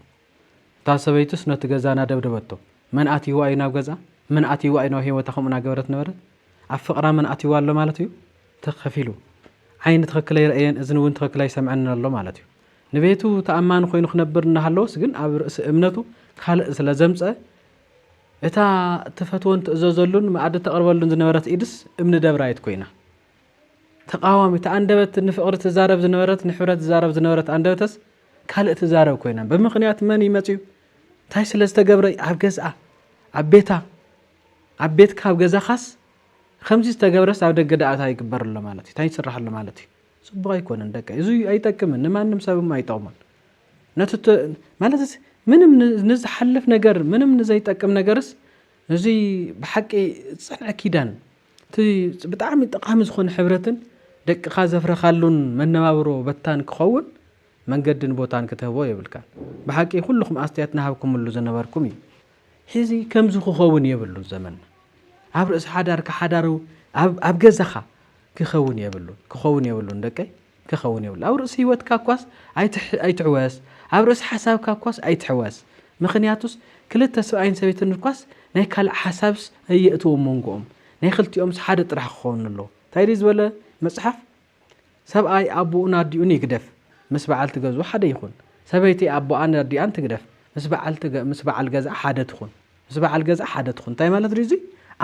እታ ሰበይቱስ ነቲ ገዛ ናደብደበቶ መን ኣትይዋ እዩ ናብ ገዝኣ መን ኣትይዋ እዩ ናብ ሂወታ ከምኡ ናገበረት ነበረት ኣብ ፍቕራ መን ኣትይዋ ኣሎ ማለት እዩ ትኽ ከፊሉ ዓይኒ ትኽክል ኣይረእየን እዝኒ ውን ትኽክል ኣይሰምዐንን ኣሎ ማለት እዩ። ንቤቱ ተኣማኒ ኮይኑ ክነብር እናሃለወስ ግን ኣብ ርእሲ እምነቱ ካልእ ስለ ዘምጸ እታ እትፈትወን ትእዘዘሉን መኣዲ ተቕርበሉን ዝነበረት ኢድስ እምኒ ደብራይት ኮይና ተቃዋሚ እቲ ኣንደበት ንፍቕሪ ትዛረብ ዝነበረት ንሕብረት ትዛረብ ዝነበረት ኣንደበተስ ካልእ ትዛረብ ኮይና ብምክንያት መን ይመፅዩ እንታይ ስለ ዝተገብረ ኣብ ገዝኣ ኣብ ቤታ ኣብ ቤትካ ኣብ ገዛኻስ ከምዚ ዝተገብረስ ኣብ ደገ ዳኣታ ይግበርሎ ማለት እዩ እንታይ ይስራሕሎ ማለት እዩ ጽቡቅ ኣይኮነን ደቀይ እዚ ኣይጠቅምን ንማንም ሰብም ኣይጠቅሙን ነቲ ማለት ምንም ንዝሓልፍ ነገር ምንም ንዘይጠቅም ነገርስ እዚ ብሓቂ ዝጸንዐ ኪዳን እቲ ብጣዕሚ ጠቓሚ ዝኾነ ሕብረትን ደቅኻ ዘፍረኻሉን መነባብሮ በታን ክኸውን መንገድን ቦታን ክትህቦ የብልካን ብሓቂ ኩልኹም ኣስተያየት ናሃብኩምሉ ዝነበርኩም እዩ ሕዚ ከምዚ ክኸውን የብሉን ዘመንና ኣብ ርእሲ ሓዳርካ ሓዳሩ ኣብ ገዛኻ ክከውን የብሉን ክከውን የብሉን ደቀይ ክከውን የብሉን ኣብ ርእሲ ሂወትካ እኳስ ኣይትሕወስ ኣብ ርእሲ ሓሳብካ እኳስ ኣይትሕወስ ምክንያቱስ ክልተ ስብኣይን ሰበይትን እኳስ ናይ ካልእ ሓሳብስ ኣየእትው ሞንጎኦም ናይ ክልቲኦምስ ሓደ ጥራሕ ክከውን ኣለዎ እንታይ ድዩ ዝበለ መጽሓፍ ሰብኣይ ኣቦኡን ኣዲኡን ይግደፍ ምስ በዓልቲ ገዝኡ ሓደ ይኩን ሰበይቲ ኣቦኣን ኣዲኣን ትግደፍ ምስ በዓል ገዝኣ ሓደ ትኩን ምስ በዓል ገዛ ሓደ ትኹን እንታይ ማለት ድዩ እዚ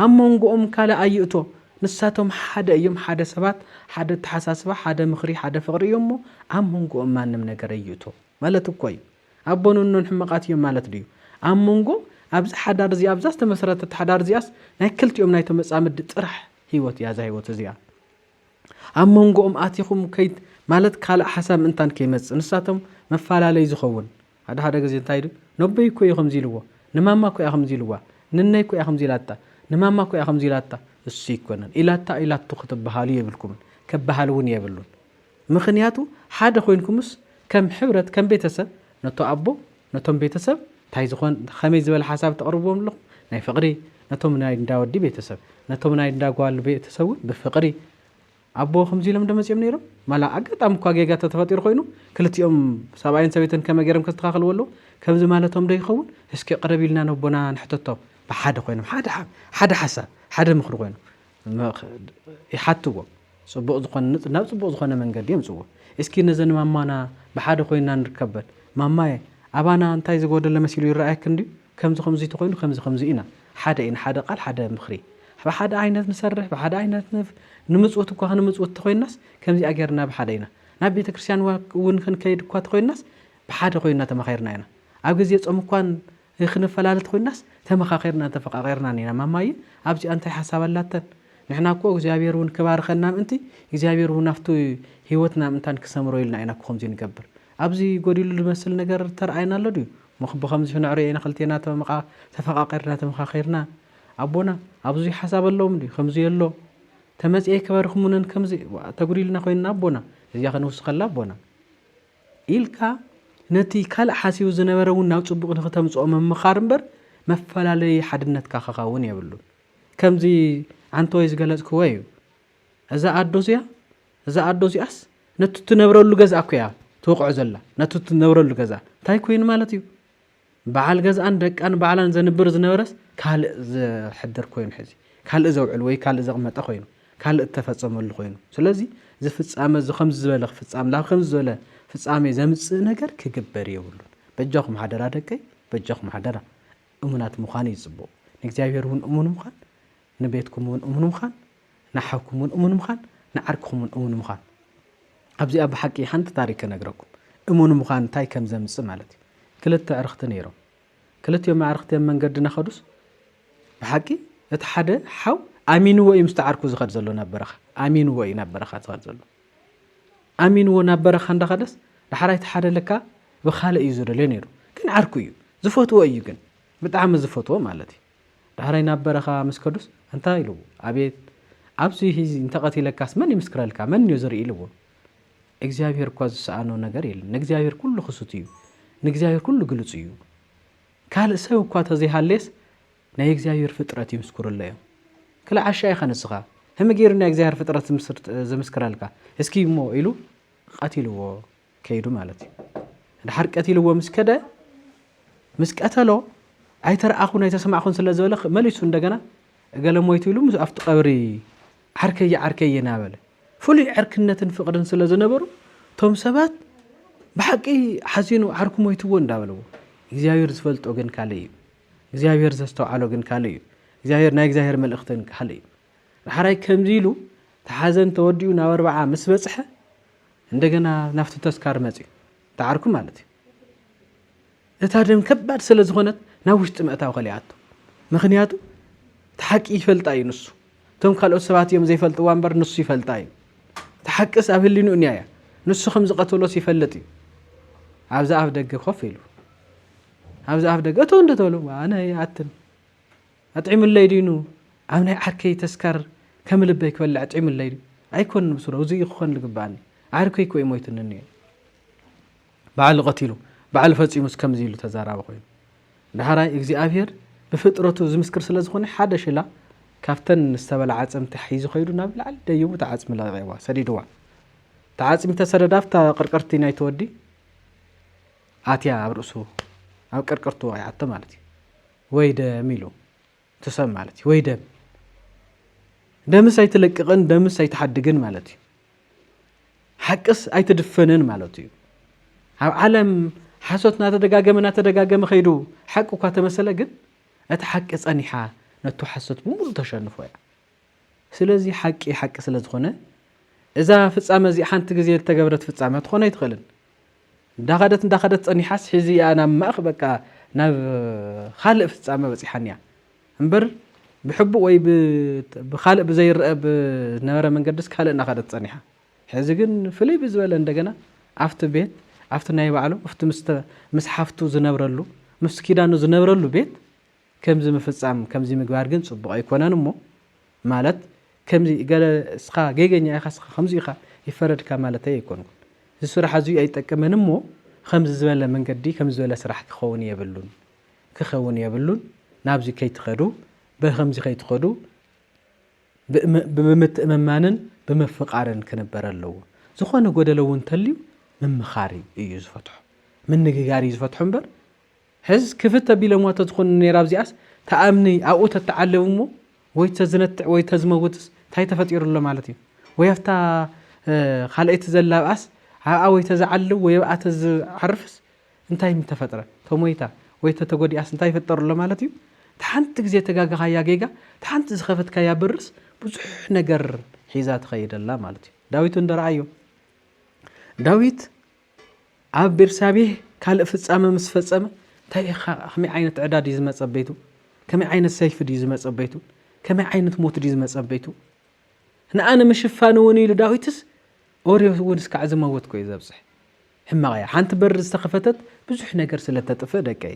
ኣብ መንጎኦም ካልእ ኣይእቶ ንሳቶም ሓደ እዮም ሓደ ሰባት ሓደ ኣተሓሳስባ ሓደ ምኽሪ ሓደ ፍቕሪ እዮም እሞ ኣብ መንጎኦም ማንም ነገር ኣይእቶ ማለት እኮ እዩ ኣቦን እኖን ሕመቓት እዮም ማለት ድዩ ኣብ መንጎ ኣብዚ ሓዳር እዚ ኣብዛ ዝተመሰረተት ሓዳር እዚኣስ ናይ ክልቲኦም ናይ ተመጻምዲ ጥራሕ ህይወት እያ እዛ ህይወት እዚኣ ኣብ መንጎኦም ኣቲኹም ከይት ማለት ካልእ ሓሳብ ምእንታን ከይመጽእ ንሳቶም መፈላለይ ዝኸውን ሓደ ሓደ ግዜ እንታይ ኢሉ ነቦይ እኮ እዩ ከምዚ ኢልዎ ንማማ እኮ እያ ከምዚ ኢልዋ ንነይ እኮ እያ ከምዚ ኢላታ ንማማ እኮ እያ ከምዚ ኢላታ እሱ ኣይኮነን ኢላታ ኢላቶ ክትበሃሉ የብልኩምን ከበሃል እውን የብሉን ምኽንያቱ ሓደ ኮይንኩምስ ከም ሕብረት ከም ቤተሰብ ነቶ ኣቦ ነቶም ቤተሰብ እንታይ ዝኾን ከመይ ዝበለ ሓሳብ ተቕርብዎም ኣለኹም ናይ ፍቕሪ ነቶም ናይ እንዳወዲ ቤተሰብ ነቶም ናይ እንዳጓል ቤተሰብ እውን ብፍቕሪ ኣቦ ከምዚ ኢሎም ዶ መጺኦም ነይሮም? ማላ ኣጋጣሚ እኳ ጌጋ ተተፈጢሩ ኮይኑ ክልቲኦም ሰብኣይን ሰበይትን ከመይ ገይሮም ከስተኻኽልዎ ኣለዎም? ከምዚ ማለቶም ዶ ይኸውን? እስኪ ቅረብ ኢልና ነቦና ንሕተቶም። ብሓደ ኮይኖም ሓደ ሓደ ሓሳብ ሓደ ምኽሪ ኮይኑ ይሓትዎ ጽቡቕ ዝኾነ ናብ ጽቡቕ ዝኾነ መንገዲ የምጽዎ። እስኪ ነዘን ማማና ብሓደ ኮይንና ንርከበን። ማማየ ኣባና እንታይ ዝጎደለ መሲሉ ይረኣየክን ድዩ? ከምዚ ከምዚ ተኾይኑ ከምዚ ከምዚ ኢና ሓደ ኢና ሓደ ቃል ሓደ ምኽሪ ብሓደ ዓይነት ንሰርሕ ብሓደ ዓይነት ንፍ ንምጽውት እኳ ክንምጽውት ተኾይናስ ከምዚኣ ጌርና ብሓደ ኢና ናብ ቤተ ክርስቲያን እውን ክንከይድ እኳ ተኾይናስ ብሓደ ኮይና ተማኺርና ኢና ኣብ ግዜ ጾም እኳን ክንፈላለ ተኾይናስ ተመኻኺርናን ተፈቃቂርናን ኢና ማማየ ኣብዚኣ እንታይ ሓሳብ ኣላተን ንሕና እኮ እግዚኣብሔር እውን ክባርኸና ምእንቲ እግዚኣብሔር እውን ኣብቲ ህይወትና ምእንታን ክሰምሮ ኢልና ኢና እኮ ከምዚ ንገብር ኣብዚ ጎዲሉ ዝመስል ነገር ተርኣየና ኣሎ ድዩ ሞኽ ብኸምዚ ክንዕርዮ ኢና ክልቴና ተመቃ ተፈቃቂርና ተመኻኺርና ኣቦና ኣብዙይ ሓሳብ ኣለዎም ድዩ ከምዙይ ኣሎ ተመጽኤ ክበርኽሙንን ከምዚ ዋእ ተጉዲልና ኮይንና ኣቦና እዚኣ ክንውስኸላ ኣቦና ኢልካ ነቲ ካልእ ሓሲቡ ዝነበረ እውን ናብ ጽቡቕ ንክተምጽኦ ምምኻር እምበር መፈላለዪ ሓድነትካ ከኸውን የብሉን ከምዚ ዓንተወይ ዝገለጽክዎ እዩ እዛ ኣዶ እዚኣ እዛ ኣዶ እዚኣስ ነቲ ትነብረሉ ገዛ እኮ እያ ትወቕዖ ዘላ ነቲ ትነብረሉ ገዛ እንታይ ኮይኑ ማለት እዩ በዓል ገዛኣን ደቃን ባዕላን ዘንብር ዝነበረስ ካልእ ዝሕድር ኮይኑ ሕዚ ካልእ ዘውዕል ወይ ካልእ ዘቕመጠ ኮይኑ ካልእ እተፈፀመሉ ኮይኑ ስለዚ እዚ ፍፃመ እዚ ከምዚ ዝበለ ክፍፃም ናብ ከምዚ ዝበለ ፍፃሜ ዘምፅእ ነገር ክግበር የብሉን በጃኹም ሓደራ ደቀይ በጃኹም ሓደራ እሙናት ምዃን እዩ ፅቡቕ ንእግዚኣብሔር እውን እሙን ምዃን ንቤትኩም እውን እሙን ምዃን፣ ንሓውኩም እውን እሙን ምዃን፣ ንዓርክኹም እውን እሙን ምዃን። ኣብዚኣ ብሓቂ ሓንቲ ታሪክ ክነግረኩም። እሙን ምዃን እንታይ ከም ዘምጽእ ማለት እዩ። ክልተ ኣዕርኽቲ ነይሮም። ክልቲኦም ኣዕርኽቲ ኣብ መንገዲ እናኸዱስ ብሓቂ እቲ ሓደ ሓው ኣሚንዎ እዩ ምስቲ ዓርኩ ዝኸድ ዘሎ ናብ በረኻ። ኣሚንዎ እዩ ናብ በረኻ ዝኸድ ዘሎ። ኣሚንዎ ናብ በረኻ እንዳኸደስ ዳሕራይ እቲ ሓደ ለካ ብካልእ እዩ ዝደልዮ ነይሩ። ግን ዓርኩ እዩ። ዝፈትዎ እዩ ግን ብጣዕሚ ዝፈትዎ ማለት እዩ። ዳሕራይ ናብ በረኻ ምስ ከዱስ እንታይ ኢሉዎ? ኣቤት ኣብዚ ሂዚ እንተቐቲለካስ መን ይምስክረልካ? መንዮ ዝርኢ ኢሉዎ። እግዚኣብሄር እኳ ዝሰኣኖ ነገር የለን። ንእግዚኣብሄር ኩሉ ክሱት እዩ። ንእግዚኣብሄር ኩሉ ግሉጽ እዩ። ካልእ ሰብ እኳ ተዘይሃለየስ ናይ እግዚኣብሄር ፍጥረት ይምስኩርሎ እዮም። ክላ ዓሻ ኢኻ ንስኻ ህሚ ገይሩ ናይ እግዚኣብሄር ፍጥረት ዝምስክረልካ እስኪ እሞ ኢሉ ቐቲልዎ። ከይዱ ማለት እዩ ድሓር ቀቲልዎ ምስ ከደ ምስ ቀተሎ ኣይተረኣኹን ኣይተሰማዕኹን ስለ ዝበለ መሊሱ እንደገና እገለ ሞይቱ ኢሉ ምስ ኣብቲ ቀብሪ ዓርከየ ዓርከየ ናበለ ፍሉይ ዕርክነትን ፍቕርን ስለ ዝነበሩ እቶም ሰባት ብሓቂ ሓዚኑ ዓርኩ ሞይትዎ እንዳበለዎ እግዚኣብሔር ዝፈልጦ ግን ካልእ እዩ እግዚኣብሔር ዘስተውዓሎ ግን ካልእ እዩ እግዚኣብሔር ናይ እግዚኣብሔር መልእኽትን ካልእ እዩ ዳሓራይ ከምዚ ኢሉ ተሓዘን ተወዲኡ ናብ ኣርባዓ ምስ በፅሐ እንደገና ናብቲ ተስካር መጺኡ። እቲ ዓርኩ ማለት እዩ። እታ ደም ከባድ ስለ ዝኾነት ናብ ውሽጢ ምእታው ከሊኣቶ። ምክንያቱ እቲ ሓቂ ይፈልጣ እዩ ንሱ። እቶም ካልኦት ሰባት እዮም ዘይፈልጥዋ እምበር ንሱ ይፈልጣ እዩ። እቲ ሓቅስ ኣብ ህሊንኡ እኒያ እያ። ንሱ ከም ዝቐተሎስ ይፈልጥ እዩ። ኣብዛ ኣፍ ደገ ኮፍ ኢሉ ኣብዛ ኣፍ ደገ እቶ እንድተሉ ኣነ ይኣትን ኣጥዒሙለይ ድዩ ን ኣብ ናይ ዓርከይ ተስካር ከም ልበይ ክበልዕ ኣጥዒሙለይ ድዩ ኣይኮንን ብሱሩ እዙይ እዩ ክኾን ልግበኣኒ ዓርከይ እኮ እዩ ሞይቱኒ እኒኦ ኢሉ ባዕሉ ቐቲሉ ባዕሉ ፈፂሙስ ከምዙይ ኢሉ ተዛራቢ ኮይኑ ዳሕራይ እግዚኣብሔር ብፍጥረቱ ዝምስክር ስለ ዝኾነ ሓደ ሽላ ካብተን ዝተበላ ዓፅምቲ ሒዙ ከይዱ ናብ ላዕሊ ደይቡ እቲ ዓፅሚ ለቂቕዋ ሰዲድዋ እቲ ዓፅሚ ተሰደዳ ኣብታ ቅርቅርቲ ናይ ተወዲ ኣትያ ኣብ ርእሱ ኣብ ቅርቅርቱ ወቂዓቶ ማለት እዩ ወይ ደም ኢሉ እቲ ሰብ ማለት እዩ ወይ ደም ደምስ ኣይትለቅቕን ደምስ ኣይትሓድግን ማለት እዩ ሓቅስ ኣይትድፈንን ማለት እዩ ኣብ ዓለም ሓሶት እናተደጋገመ እናተደጋገመ ከይዱ ሓቂ እኳ ተመሰለ ግን እቲ ሓቂ ፀኒሓ ነቱ ሓሶት ብምሉእ ተሸንፎ እያ ስለዚ ሓቂ ሓቂ ስለ ዝኾነ እዛ ፍጻመ እዚኣ ሓንቲ ግዜ ዝተገብረት ፍጻመ ትኾን ኣይትኽእልን። እንዳኸደት እንዳኸደት ጸኒሓስ ሕዚ እያ ናብ ማእኽ በቃ ናብ ኻልእ ፍጻመ በጺሓን እያ እምበር ብሕቡእ ወይ ብኻልእ ብዘይረአ ብነበረ መንገድስ ካልእ እናኸደት ጸኒሓ ሕዚ ግን ፍልይ ብዝበለ እንደገና ኣብቲ ቤት ኣብቲ ናይ ባዕሉ ኣብቲ ምስ ሓፍቱ ዝነብረሉ ምስ ኪዳኑ ዝነብረሉ ቤት ከምዚ ምፍጻም ከምዚ ምግባር ግን ጽቡቅ ኣይኮነን እሞ ማለት ከምዚ ገለ እስኻ ጌገኛ ኢኻ እስኻ ከምዚ ኢኻ ይፈረድካ ማለተይ ኣይኮንኩን እዚ ስራሕ እዚ ኣይጠቅምን እሞ ኸምዚ ዝበለ መንገዲ ከምዚ ዝበለ ስራሕ ክኸውን የብሉን ክኸውን የብሉን ናብዚ ከይትኸዱ በኸምዚ ከይትኸዱ ብምትእምማንን ብምፍቃርን ክንበር ኣለዎ ዝኾነ ጎደሎ እውን ተልዩ ምምኻር እዩ ዝፈትሖ ምንግጋር እዩ ዝፈትሖ እምበር ሕዝ ክፍት ኣቢሎምዋ ተዝኾኑ ነይራ ኣብዚኣስ ተኣምኒ ኣብኡ ተተዓለቡ እሞ ወይ ተዝነትዕ ወይ ተዝመውትስ ታይ ተፈጢሩ ኣሎ ማለት እዩ ወይ ኣብታ ኻልኣይቲ ዘላ ኣብኣስ ኣብኣ ወይ ተዝዓልው ወይ ኣብኣ ተዝዓርፍስ እንታይ ምተፈጥረ ተሞይታ ወይ ተተጎዲኣስ እንታይ ይፍጠር ኣሎ ማለት እዩ ተሓንቲ ግዜ ተጋገኻያ ጌጋ ተሓንቲ ዝኸፈትካያ በርስ ብዙሕ ነገር ሒዛ ትኸይድ ኣላ ማለት እዩ ዳዊት እንዶ ረኣዮ ዳዊት ኣብ ቤርሳቤህ ካልእ ፍጻመ ምስ ፈጸመ እንታይ ኢኻ ከመይ ዓይነት ዕዳ ድዩ ዝመጸ ቤቱ ከመይ ዓይነት ሰይፊ ድዩ ዝመጸ ቤቱ ከመይ ዓይነት ሞት ድዩ ዝመጸ ቤቱ ንኣ ንምሽፋን እውን ኢሉ ዳዊትስ ኦርዮ እውን እስካዕ ዝመወት ኮዩ ዘብፅሕ ሕማቕ እያ ሓንቲ በሪ ዝተኸፈተት ብዙሕ ነገር ስለ ተጥፍእ ደቀይ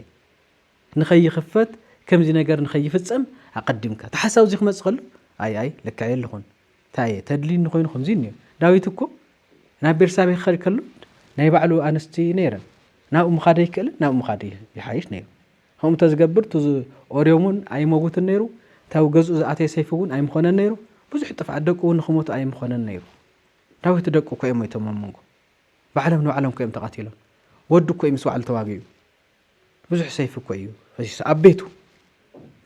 ንኸይኽፈት ከምዚ ነገር ንኸይፍፀም ኣቐዲምካ ተሓሳብ እዚ ክመፅእ ከሎ ኣይ ኣይ ልክዕ የለኹን ታየ፣ ተድልዩኒ ዀይኑ ኸምዚ እኒኦ፣ ዳዊት እኮ ናብ ቤርሳቤህ ክኸድ ከሎ ናይ ባዕሉ ኣንስቲ ነይረን፣ ናብኡ ምኻድ ኣይክእልን፣ ናብኡ ምኻድ ይሓይሽ ነይሩ። ከምኡ እንተ ዝገብር እቲ ኦርዮም እውን ኣይመውትን ነይሩ፣ እቲ ኣብ ገዝኡ ዝኣተየ ሰይፊ እውን ኣይምዀነን ነይሩ፣ ብዙሕ ጥፍኣት ደቁ እውን ንኽሞቱ ኣይምዀነን ነይሩ። ዳዊት ደቁ እኮ እዮም ሞይቶም ኣብ መንጎ። ባዕሎም ንባዕሎም እኮ እዮም ተቐቲሎም። ወዱ እኮ እዩ ምስ ባዕሉ ተዋጊኡ። ብዙሕ ሰይፊ እኮ እዩ ፈሲሱ ኣብ ቤቱ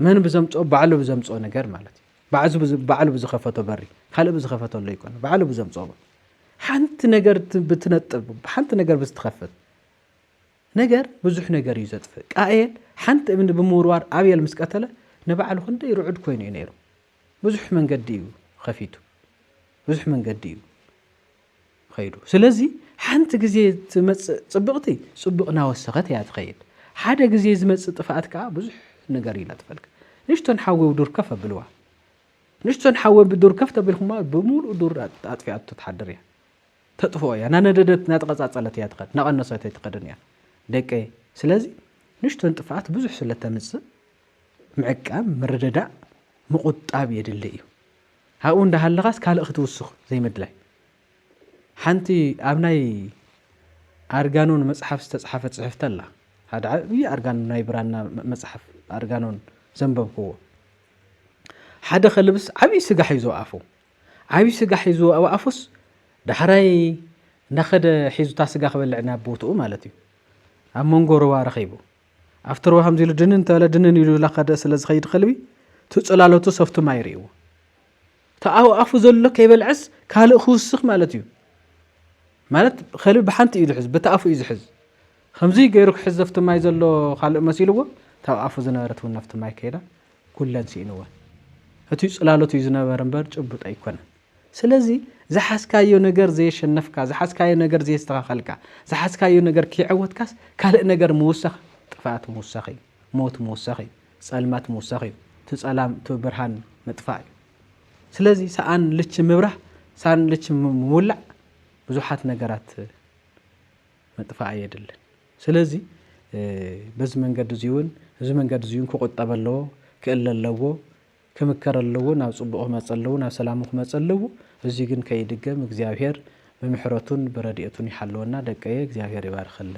መን ብዘምፅኦ ባዕሉ ብዘምፅኦ ነገር ማለት እዩ ባዕሉ ብዝኸፈቶ በሪ ካልእ ብዝኸፈቶ ኣሎ ይኮነ ባዕሉ ብዘምፅኦ ሓንቲ ነገር ብትነጥብ ሓንቲ ነገር ብዝትኸፍት ነገር ብዙሕ ነገር እዩ ዘጥፍእ ቃኤል ሓንቲ እምኒ ብምውርዋር ኣብየል ምስ ቀተለ ንባዕሉ ክንደይ ርዑድ ኮይኑ እዩ ነይሩ ብዙሕ መንገዲ እዩ ከፊቱ ብዙሕ መንገዲ እዩ ኸይዱ ስለዚ ሓንቲ ግዜ ትመጽእ ጽብቕቲ ጽቡቕ ናወሰኸት እያ ትኸይድ ሓደ ግዜ ዝመጽእ ጥፍኣት ከኣ ብዙሕ ነገር ይነጥፈልካ ንሽቶን ሓዊ ዱር ከፍ ኣብልዋ ንሽቶን ሓዊ ብዱር ከፍ ተቢልኩማ ብምሉእ ዱር ኣጥፊኣቶ ትሓድር እያ ተጥፍኦ እያ ናነደደት ናተቐጻጸለት እያ ትኸድ ናቐነሰት ኣይትኸድን እያ ደቀየ ስለዚ ንሽቶን ጥፍኣት ብዙሕ ስለ ተምጽእ ምዕቃብ ምርድዳእ ምቑጣብ የድሊ እዩ ኣብኡ እንዳሃለኻስ ካልእ ክትውስኽ ዘይምድላይ። ሓንቲ ኣብ ናይ ኣርጋኖን መጽሓፍ ዝተጽሓፈት ጽሕፍቲ ኣላ። ሓደ ዓብዪ ኣርጋኖን ናይ ብራና መጽሓፍ ኣርጋኖን ዘንበብክዎ ሓደ ከልብስ ዓብዪ ስጋ ሒዙ ኣፉ ዓብዪ ስጋ ሒዙ ኣብ ኣፉስ ዳሕራይ እንዳኸደ ሒዙታ ስጋ ክበልዕ ናብ ቦትኡ ማለት እዩ ኣብ መንጎ ሩባ ረኺቡ ኣፍቲ ሩባ ከምዚ ኢሉ ድንን ተበለ ድንን ኢሉ ላኸደ ስለ ዝኸይድ ኸልቢ እቲ ጽላሎቱ ሰፍቱ ማይ ርእይዎ እቲ ኣብ ኣፉ ዘሎ ከይበልዐስ ካልእ ክውስኽ ማለት እዩ ማለት ኸልቢ ብሓንቲ እዩ ዝሕዝ በቲ ኣፉ እዩ ዝሕዝ ከምዚ ገይሩ ክሕዝ ዘፍቲ ማይ ዘሎ ካልእ መሲልዎ እታብ ኣፉ ዝነበረት እውን ነፍቲ ማይ ከይዳ ኩለን ስኢንወን እቲ ጽላሎት እዩ ዝነበረ እምበር ጭቡጥ ኣይኮነን ስለዚ ዝሓዝካዮ ነገር ዘየሸነፍካ፣ ዝሓዝካዮ ነገር ዘየስተኻኸልካ፣ ዝሓዝካዮ ነገር ከይዐወትካስ ካልእ ነገር ምውሳኽ ጥፍኣት ምውሳኽ እዩ፣ ሞት ምውሳኽ እዩ፣ ጸልማት ምውሳኽ እዩ፣ እቲ ጸላም እቲ ብርሃን ምጥፋእ እዩ። ስለዚ ሰኣን ልቺ ምብራህ፣ ሰኣን ልቺ ምውላዕ ብዙሓት ነገራት ምጥፋእ የድልን። ስለዚ በዚ መንገዲ እዚውን እዚ መንገዲ እዚውን ክቑጠብ ኣለዎ፣ ክእለ ኣለዎ፣ ክምከር ኣለዎ ናብ ጽቡቅ ክመጽ ኣለዎ ናብ ሰላሙ ክመጽ ኣለዎ እዚ ግን ከይድገም እግዚኣብሔር ብምሕረቱን ብረድኤቱን ይሓልወና ደቀየ እግዚኣብሔር ይባርኸለይ።